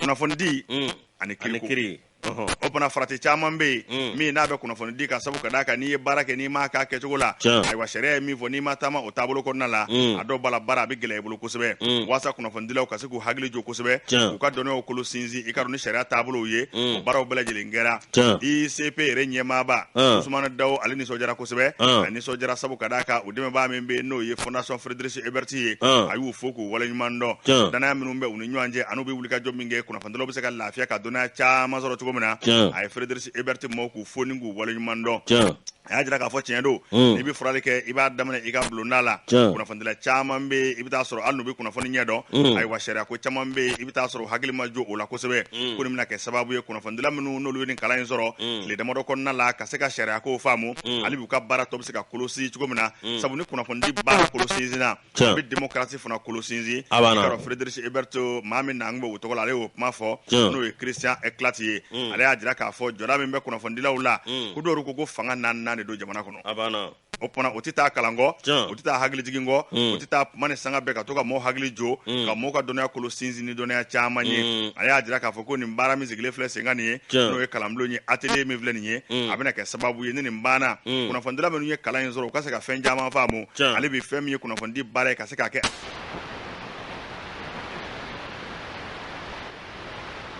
kunnafonidi Mm. ani ani kiriko kiri Ɔhɔ. o fana farati caman bɛ yen Mm. min n'a bɛ kunnafonidi kan sabu ka d'a kan n'i ye baara kɛ n'i m'a k'a kɛcogo la Tiɲɛ. ayiwa sariya ye min fɔ n'i ma taama o taabolo kɔnɔna la Mm. a dɔw b'a la baara a bɛ gɛlɛya i bolo kosɛbɛ Mm. walasa kunnafonidilaw ka se k'u hakili jo kosɛbɛ Tiɲɛ. k'u ka dɔnniyaw kolo sinsin i k'a dɔn ni sariya taabolow ye Mm. o baaraw bɛɛ lajɛlen kɛra Tiɲɛ. ICP yɛrɛ ɲɛmaaba Ah. Usumani Dawo ale nisɔndiyara kosɛbɛ Ah. a nisɔndiyara sabu ka d'a kan o dɛmɛbaa min bɛ yen n'o ye fondation Friedrich Ebert ye Ah. a y'u fo k'u waleɲuman dɔn Tiɲɛ. danaya minnu bɛ u ni ɲɔgɔn cɛ an'u bɛ wulikajɔ min kɛ kunnafonidilaw bɛ se ka lafiya ka dɔnniya caman sɔrɔ cogo min na Tiɲɛ. a ye Friedrich Ebert maaw k'u fo ni k'u waleɲuman dɔn Tiɲɛ. a y'a jira k'a fɔ tiɲɛ don n'i bɛ furali kɛ i b'a daminɛ i ka bulonda la kunnafonidila caman bɛ yen i bɛ taa sɔrɔ hali n'u bɛ kunnafoni ɲɛ dɔn mm. ayiwa sariya ko caman bɛ yen i bɛ taa sɔrɔ hakili ma jo o la kosɛbɛ mm. ko nin bɛna kɛ sababu ye kunnafonidila minnu n'olu ye nin kalan in sɔrɔ tile damadɔ kɔnɔna la ka se ka sariya ko faamu hali b'u ka baara tɔ bɛ se ka kolo sinsin cogo min na sabu ni kunnafonidi baara kolo sinsinna Tiɲɛ. a bɛ démocratie fana kolo sinsin A banna. Yɔrɔ Friedrich Ebert maa min nanen bɛ o tɔgɔ la ale y'o kuma fɔ Tiɲɛ. n'o ye Christian Klatt ye ale y'a jira k'a fɔ jɔda min bɛ kunnafonidilaw la ko dɔw ko ko fanga naaninan de don jamana kɔnɔ a banna o tuma o tɛ taa kalan kɔ Tiɲɛ. o tɛ taa hakilijigin kɔ o tɛ taa kuma ni sanga bɛɛ ka to ka mɔɔ hakili jo ka mɔɔ ka dɔnniya kolo sinsin ni dɔnniya caman ye a y'a jira k'a fɔ ko nin baara min sigilen filɛ senkan nin ye Tiɲɛ. n'o ye kalanbulon ye atelier min filɛ nin ye a bɛna kɛ sababu ye ni nin banna mm. kunnafonidila minnu ye kalan in sɔrɔ u ka se ka fɛn caman faamu hali bi fɛn min ye kunnafonidi baara ye ka se k'a kɛ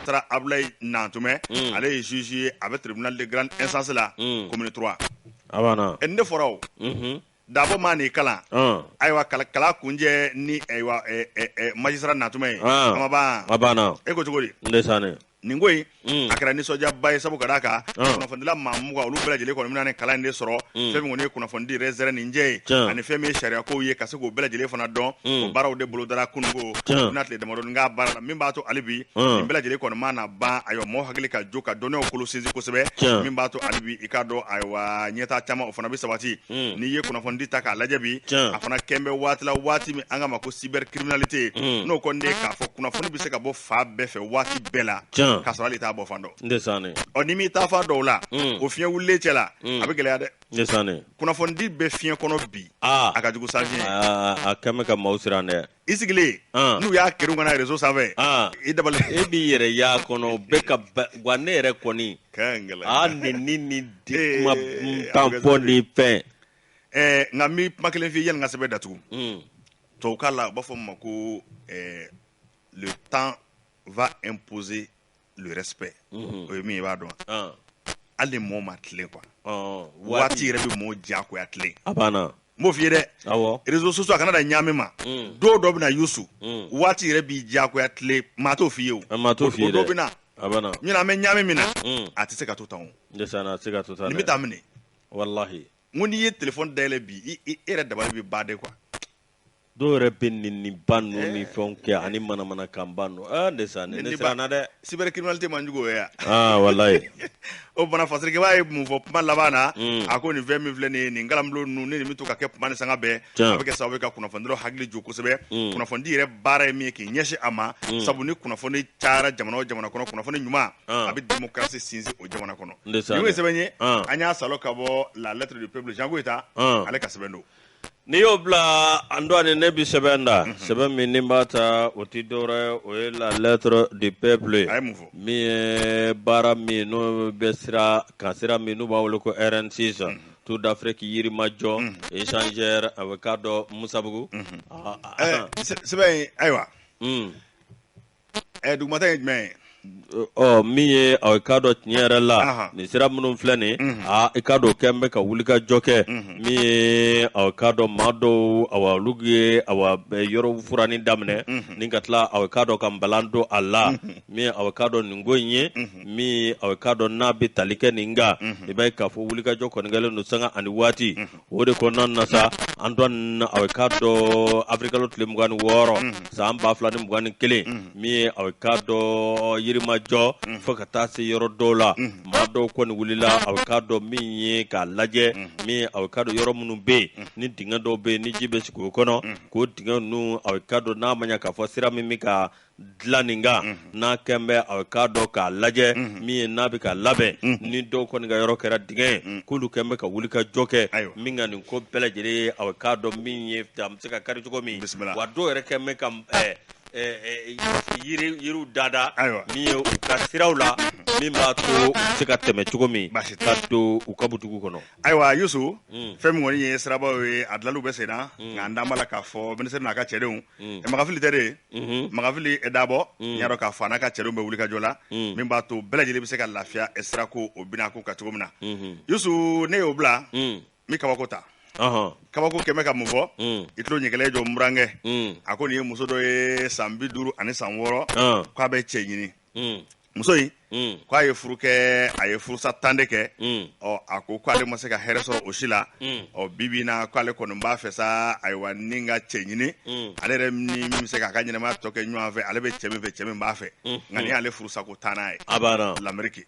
magistrat Abulayi Nantumɛ mm. ale ye juge ye a bɛ tribunal de grande instance la mm. commune 3 a banna ne fɔra o mm-hmm. Dabo ma ni kalan ayiwa kalan kuncɛ ni magistrat Nantume ye e ko cogo di nin ko a kɛra nisɔndiyaba ye sabu ka d'a kan kunnafonidila maa mugan olu bɛɛ lajɛlen kɔni bɛna nin kalan de sɔrɔ fɛn minnu ye kunnafonidi yɛrɛ ni cɛ ye ani fɛn min ye sariya ko ye ka se k'u bɛɛ lajɛlen fana dɔn baaraw de bolodara kununko n'a tile dama baara la min b'a to hali bi bɛɛ lajɛlen kɔni mana ban ayiwa maaw hakili ka jo ka dɔnniyaw kolo sinsin kosɛbɛ min b'a to hali bi i k'a dɔn ayiwa ɲɛtaa caman o fana bɛ sabati Mm. n'i ye kunnafonidi ta k'a lajɛ bi a fana kɛn bɛ waati la waati min an k'a ma ko cybercriminalité mm. n'o kɔni de k'a fɔ kunnafoni bɛ se ka bɔ fan bɛɛ fɛ waati bɛɛ la k'a sɔrɔ hali t'a bɔ fan dɔ ɔ ni m'i taa fan dɔw la mm. o fiɲɛ wulilen cɛ la a bɛ gɛlɛya dɛ kunnafonidi bɛ fiɲɛ kɔnɔ bi a ka jugu sanfiɲɛ a kɛn bɛ ka maaw siran dɛ i sigilen n'u y'a kerun ka na réseau sanfɛ i dabali e b'i yɛrɛ y'a kɔnɔ bɛɛ ka wa ne yɛrɛ kɔni a ni ni ni kuma tan fɔ ni fɛn nka n bɛ kuma kelen f'i ye yanni n ka sɛbɛn datugu tubabukan la u b'a fɔ min ma ko le temps va imposer le respect o ye min ye i b'a dɔn hali mɔɔ ma tilen quoi waati yɛrɛ bɛ mɔɔ diyagoya tilen a banna n b'o f'i ye dɛ réseaux sociaux a kana da ɲaami ma don dɔ bɛ na Yusu waati yɛrɛ b'i diyagoya tilen maa t'o f'i ye o maa t'o f'i dɔ bɛ ɲinan an bɛ ɲaami min na a tɛ se ka to tan se ka to n bɛ taa minɛ walahi ko n'i ye téléphone dayɛlɛ bi e yɛrɛ dabali bɛ ban de quoi dɔw yɛrɛ bɛ neniniba ninnu eh. ni fɛnw kɛ ani manamanakanba ninnu ah ne sa ne ne siranna dɛ cybercriminalité man jugu o ye ah walayi o bana fasirikɛbaa ye mun fɔ kuma laban na hmm. a ko nin fɛn min filɛ nin ye nin kalanbulon ninnu ni nin bɛ to ka kɛ tuma ni sanga bɛɛ a bɛ kɛ sababu ye ka kunnafonidilaw hakili jo kosɛbɛ hmm. kunnafonidi yɛrɛ baara ye min ye k'i ɲɛsin a ma hmm. sabu ni kunnafoni cayara jamana o jamana kɔnɔ kunnafoni ɲuman ah. a bɛ démocratie sinsin o jamana kɔnɔ nin ye sɛbɛn ye ah. an y'a salo ka bɔ la lettre du peuple Jean Goyita ah. ale ka sɛbɛn don N'i y'o bila an dɔɔni ne bɛ sɛbɛn da sɛbɛn min ni b'a ta o tɛ dɔwɛrɛ o ye la lettre du peuple ye min ye baara min n'o bɛ sira kan sira min n'u b'a wele ko RN6 Tour d'Afrique Yirimajɔ échangeur a bɛ k'a dɔn Musabugu sɛbɛn ayiwa ɛ dugumata ye jumɛn ye ɔ min ye ɔ i k'a dɔn tiɲɛ yɛrɛ la Ahan. nin sira minnu filɛ nin Mhm. a i k'a dɔn o kɛlen bɛ ka wulikajɔ kɛ Mhm. min ye ɔ i k'a dɔn maa dɔw awa olu ye awa yɔrɔ furanni daminɛ Mhm. ni ka tila aw i k'a dɔn ka balan don a la Mhm. min ye aw i k'a dɔn nin ko in ye Mhm. min ye aw i k'a dɔn n'a bɛ tali kɛ nin kan Mhm. i b'a ye k'a fɔ wulikajɔ kɔni kɛlen don sanga ani waati Mhm. o de kɔnɔna na sa an dɔ na a k'a dɔn awirilikalo tile mugan ni wɔɔrɔ san ba fila ni mugan ni kelen min ye a k'a dɔn Yirimajɔ fo ka taa se yɔrɔ dɔw la maa dɔw kɔni wulila a k'a dɔn min ye k'a lajɛ min a k'a dɔn yɔrɔ minnu bɛ yen ni dingɛ dɔw bɛ yen ni ji bɛ sigi o kɔnɔ k'o dingɛ ninnu a k'a dɔn n'a ma ɲɛ k'a fɔ sira min bɛ ka dilan nin kan n'a kɛn bɛ a k'a dɔn k'a lajɛ min ye n'a bɛ ka labɛn ni dɔw kɔni ka yɔrɔ kɛra dingɛ ye k'olu kɛn bɛ ka wulikajɔ kɛ min ka nin ko bɛɛ lajɛlen ye a k'a dɔn min ye a bɛ se ka kari cogo min wa dɔw yɛrɛ kɛn bɛ ka yiriw dada min ye u ka siraw la min b'a to se ka tɛmɛ cogo min ka don u ka butigi kɔnɔ ayiwa Yusu fɛn min kɔni ye sirabaw ye a dilanni bɛ senna nka an dan b'a la k'a fɔ ministre n'a ka cɛdenw Makan Fili tɛ de Mhm. Makan Fili Dabo n y'a dɔn k'a fɔ a n'a ka cɛdenw bɛ wulikajɔ la min b'a to bɛɛ lajɛlen bɛ se ka lafiya eh, sirako o bina ko ka cogo min na yusu ne y'o bila n bɛ kabako ta Ɔhɔn. kabako kɛn bɛ ka mun fɔ Mm. i tulo ɲɛkɛlɛ jɔ burankɛ Mm. a ko nin ye muso dɔ ye san bi duuru ani san wɔɔrɔ Ɔn. k'a bɛ cɛ ɲini Mm. muso in mm. ko a ye furu kɛ a ye furusa tan de kɛ mm. ɔ a ko ko ale ma se ka hɛrɛ sɔrɔ o si la mm. ɔ bi bi in na ko ale kɔni b'a fɛ sa ayiwa ni ka cɛ ɲini ale yɛrɛ ni min bɛ se k'a ka ɲɛnamaya tɔ kɛ ɲɔgɔn fɛ ale bɛ cɛ min fɛ cɛ min b'a fɛ nka nin y'ale furusa ko tannan ye lameriki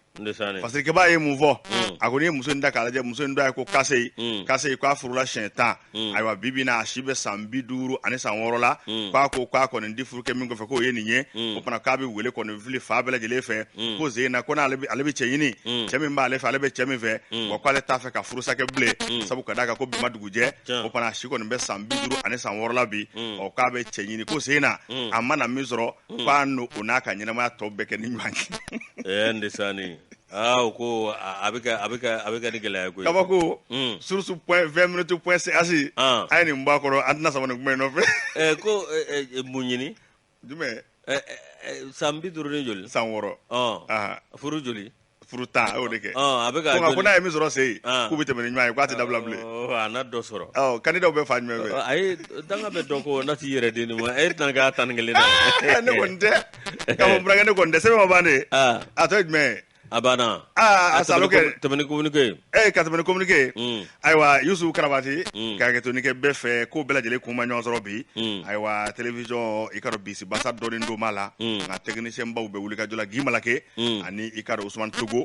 parce que b'a ye mun fɔ a ko n'i ye muso in ta k'a lajɛ muso in tɔgɔ ye ko Cassey Cassey ko a furula siɲɛ tan Mm. ayiwa bi bi in na a si bɛ san bi duuru ani san wɔɔrɔ la mm. k'a ko k'a kɔni di furu kɛ min kɔfɛ k'o ye nin ye mm. o fana k'a bɛ wele kɔni fili fa bɛɛ lajɛlen fɛ ko sen in na ko n'ale ale bɛ cɛ ɲini cɛ min b'ale fɛ ale bɛ cɛ min fɛ wa k'ale t'a fɛ ka furusa kɛ bilen sabu ka d'a kan ko bi ma dugu jɛ o fana a si kɔni bɛ san bi duuru ani san wɔɔrɔ la bi ɔ k'a bɛ cɛ ɲini ko sen in na a mana min sɔrɔ k'a n'o n'a ka ɲɛnamaya tɔ bɛɛ kɛ ni ɲɔgɔn ye. aa u ko a a bɛ ka a bɛ ka a bɛ ka ni gɛlɛya ye koyi kabako Mm. source point vingt minutes point c h Ah. a ye nin bɔ a kɔrɔ an tɛna sama nin kuma in nɔfɛ ɛ ko ɛ, ɛ, mun ɲini jumɛn Ɛ, ɛ, ɛ, san bi duuru ni joli san wɔɔrɔ Ɔn. Aha. furu joli furu tan a y'o de kɛ Ɔn, a bɛ ka ko nka ko n'a ye min sɔrɔ sen in Ah. k'u bɛ tɛmɛ ni ɲɔgɔn ye k'a tɛ dabila bilen Ɔ, a na dɔ sɔrɔ ɔ kandidaw bɛ fan jumɛn fɛ Ɔ, ayi danga bɛ dɔ kɔ n'a t'i yɛrɛ di nin ma e tɛna k'a tan ni kelennan ne kɔni tɛ k'a fɔ burankɛ ne kɔni de sɛbɛn ma ban de ah. a tɔ ye jumɛn ye a banna aa a salo ka tɛmɛ ni communiqué ee ka tɛmɛ ni communiqué mm. ayiwa yusufu karabati mm. ka hakɛtoni kɛ bɛɛ fɛ ko bɛɛ lajɛlen kun ma ɲɔgɔn sɔrɔ bi mm. ayiwa télévision i k'a dɔn bisi basa dɔɔnin don b'a la nka technicienbaw bɛ wulikajɔ la gimala ke ani i k'a dɔn usumani togo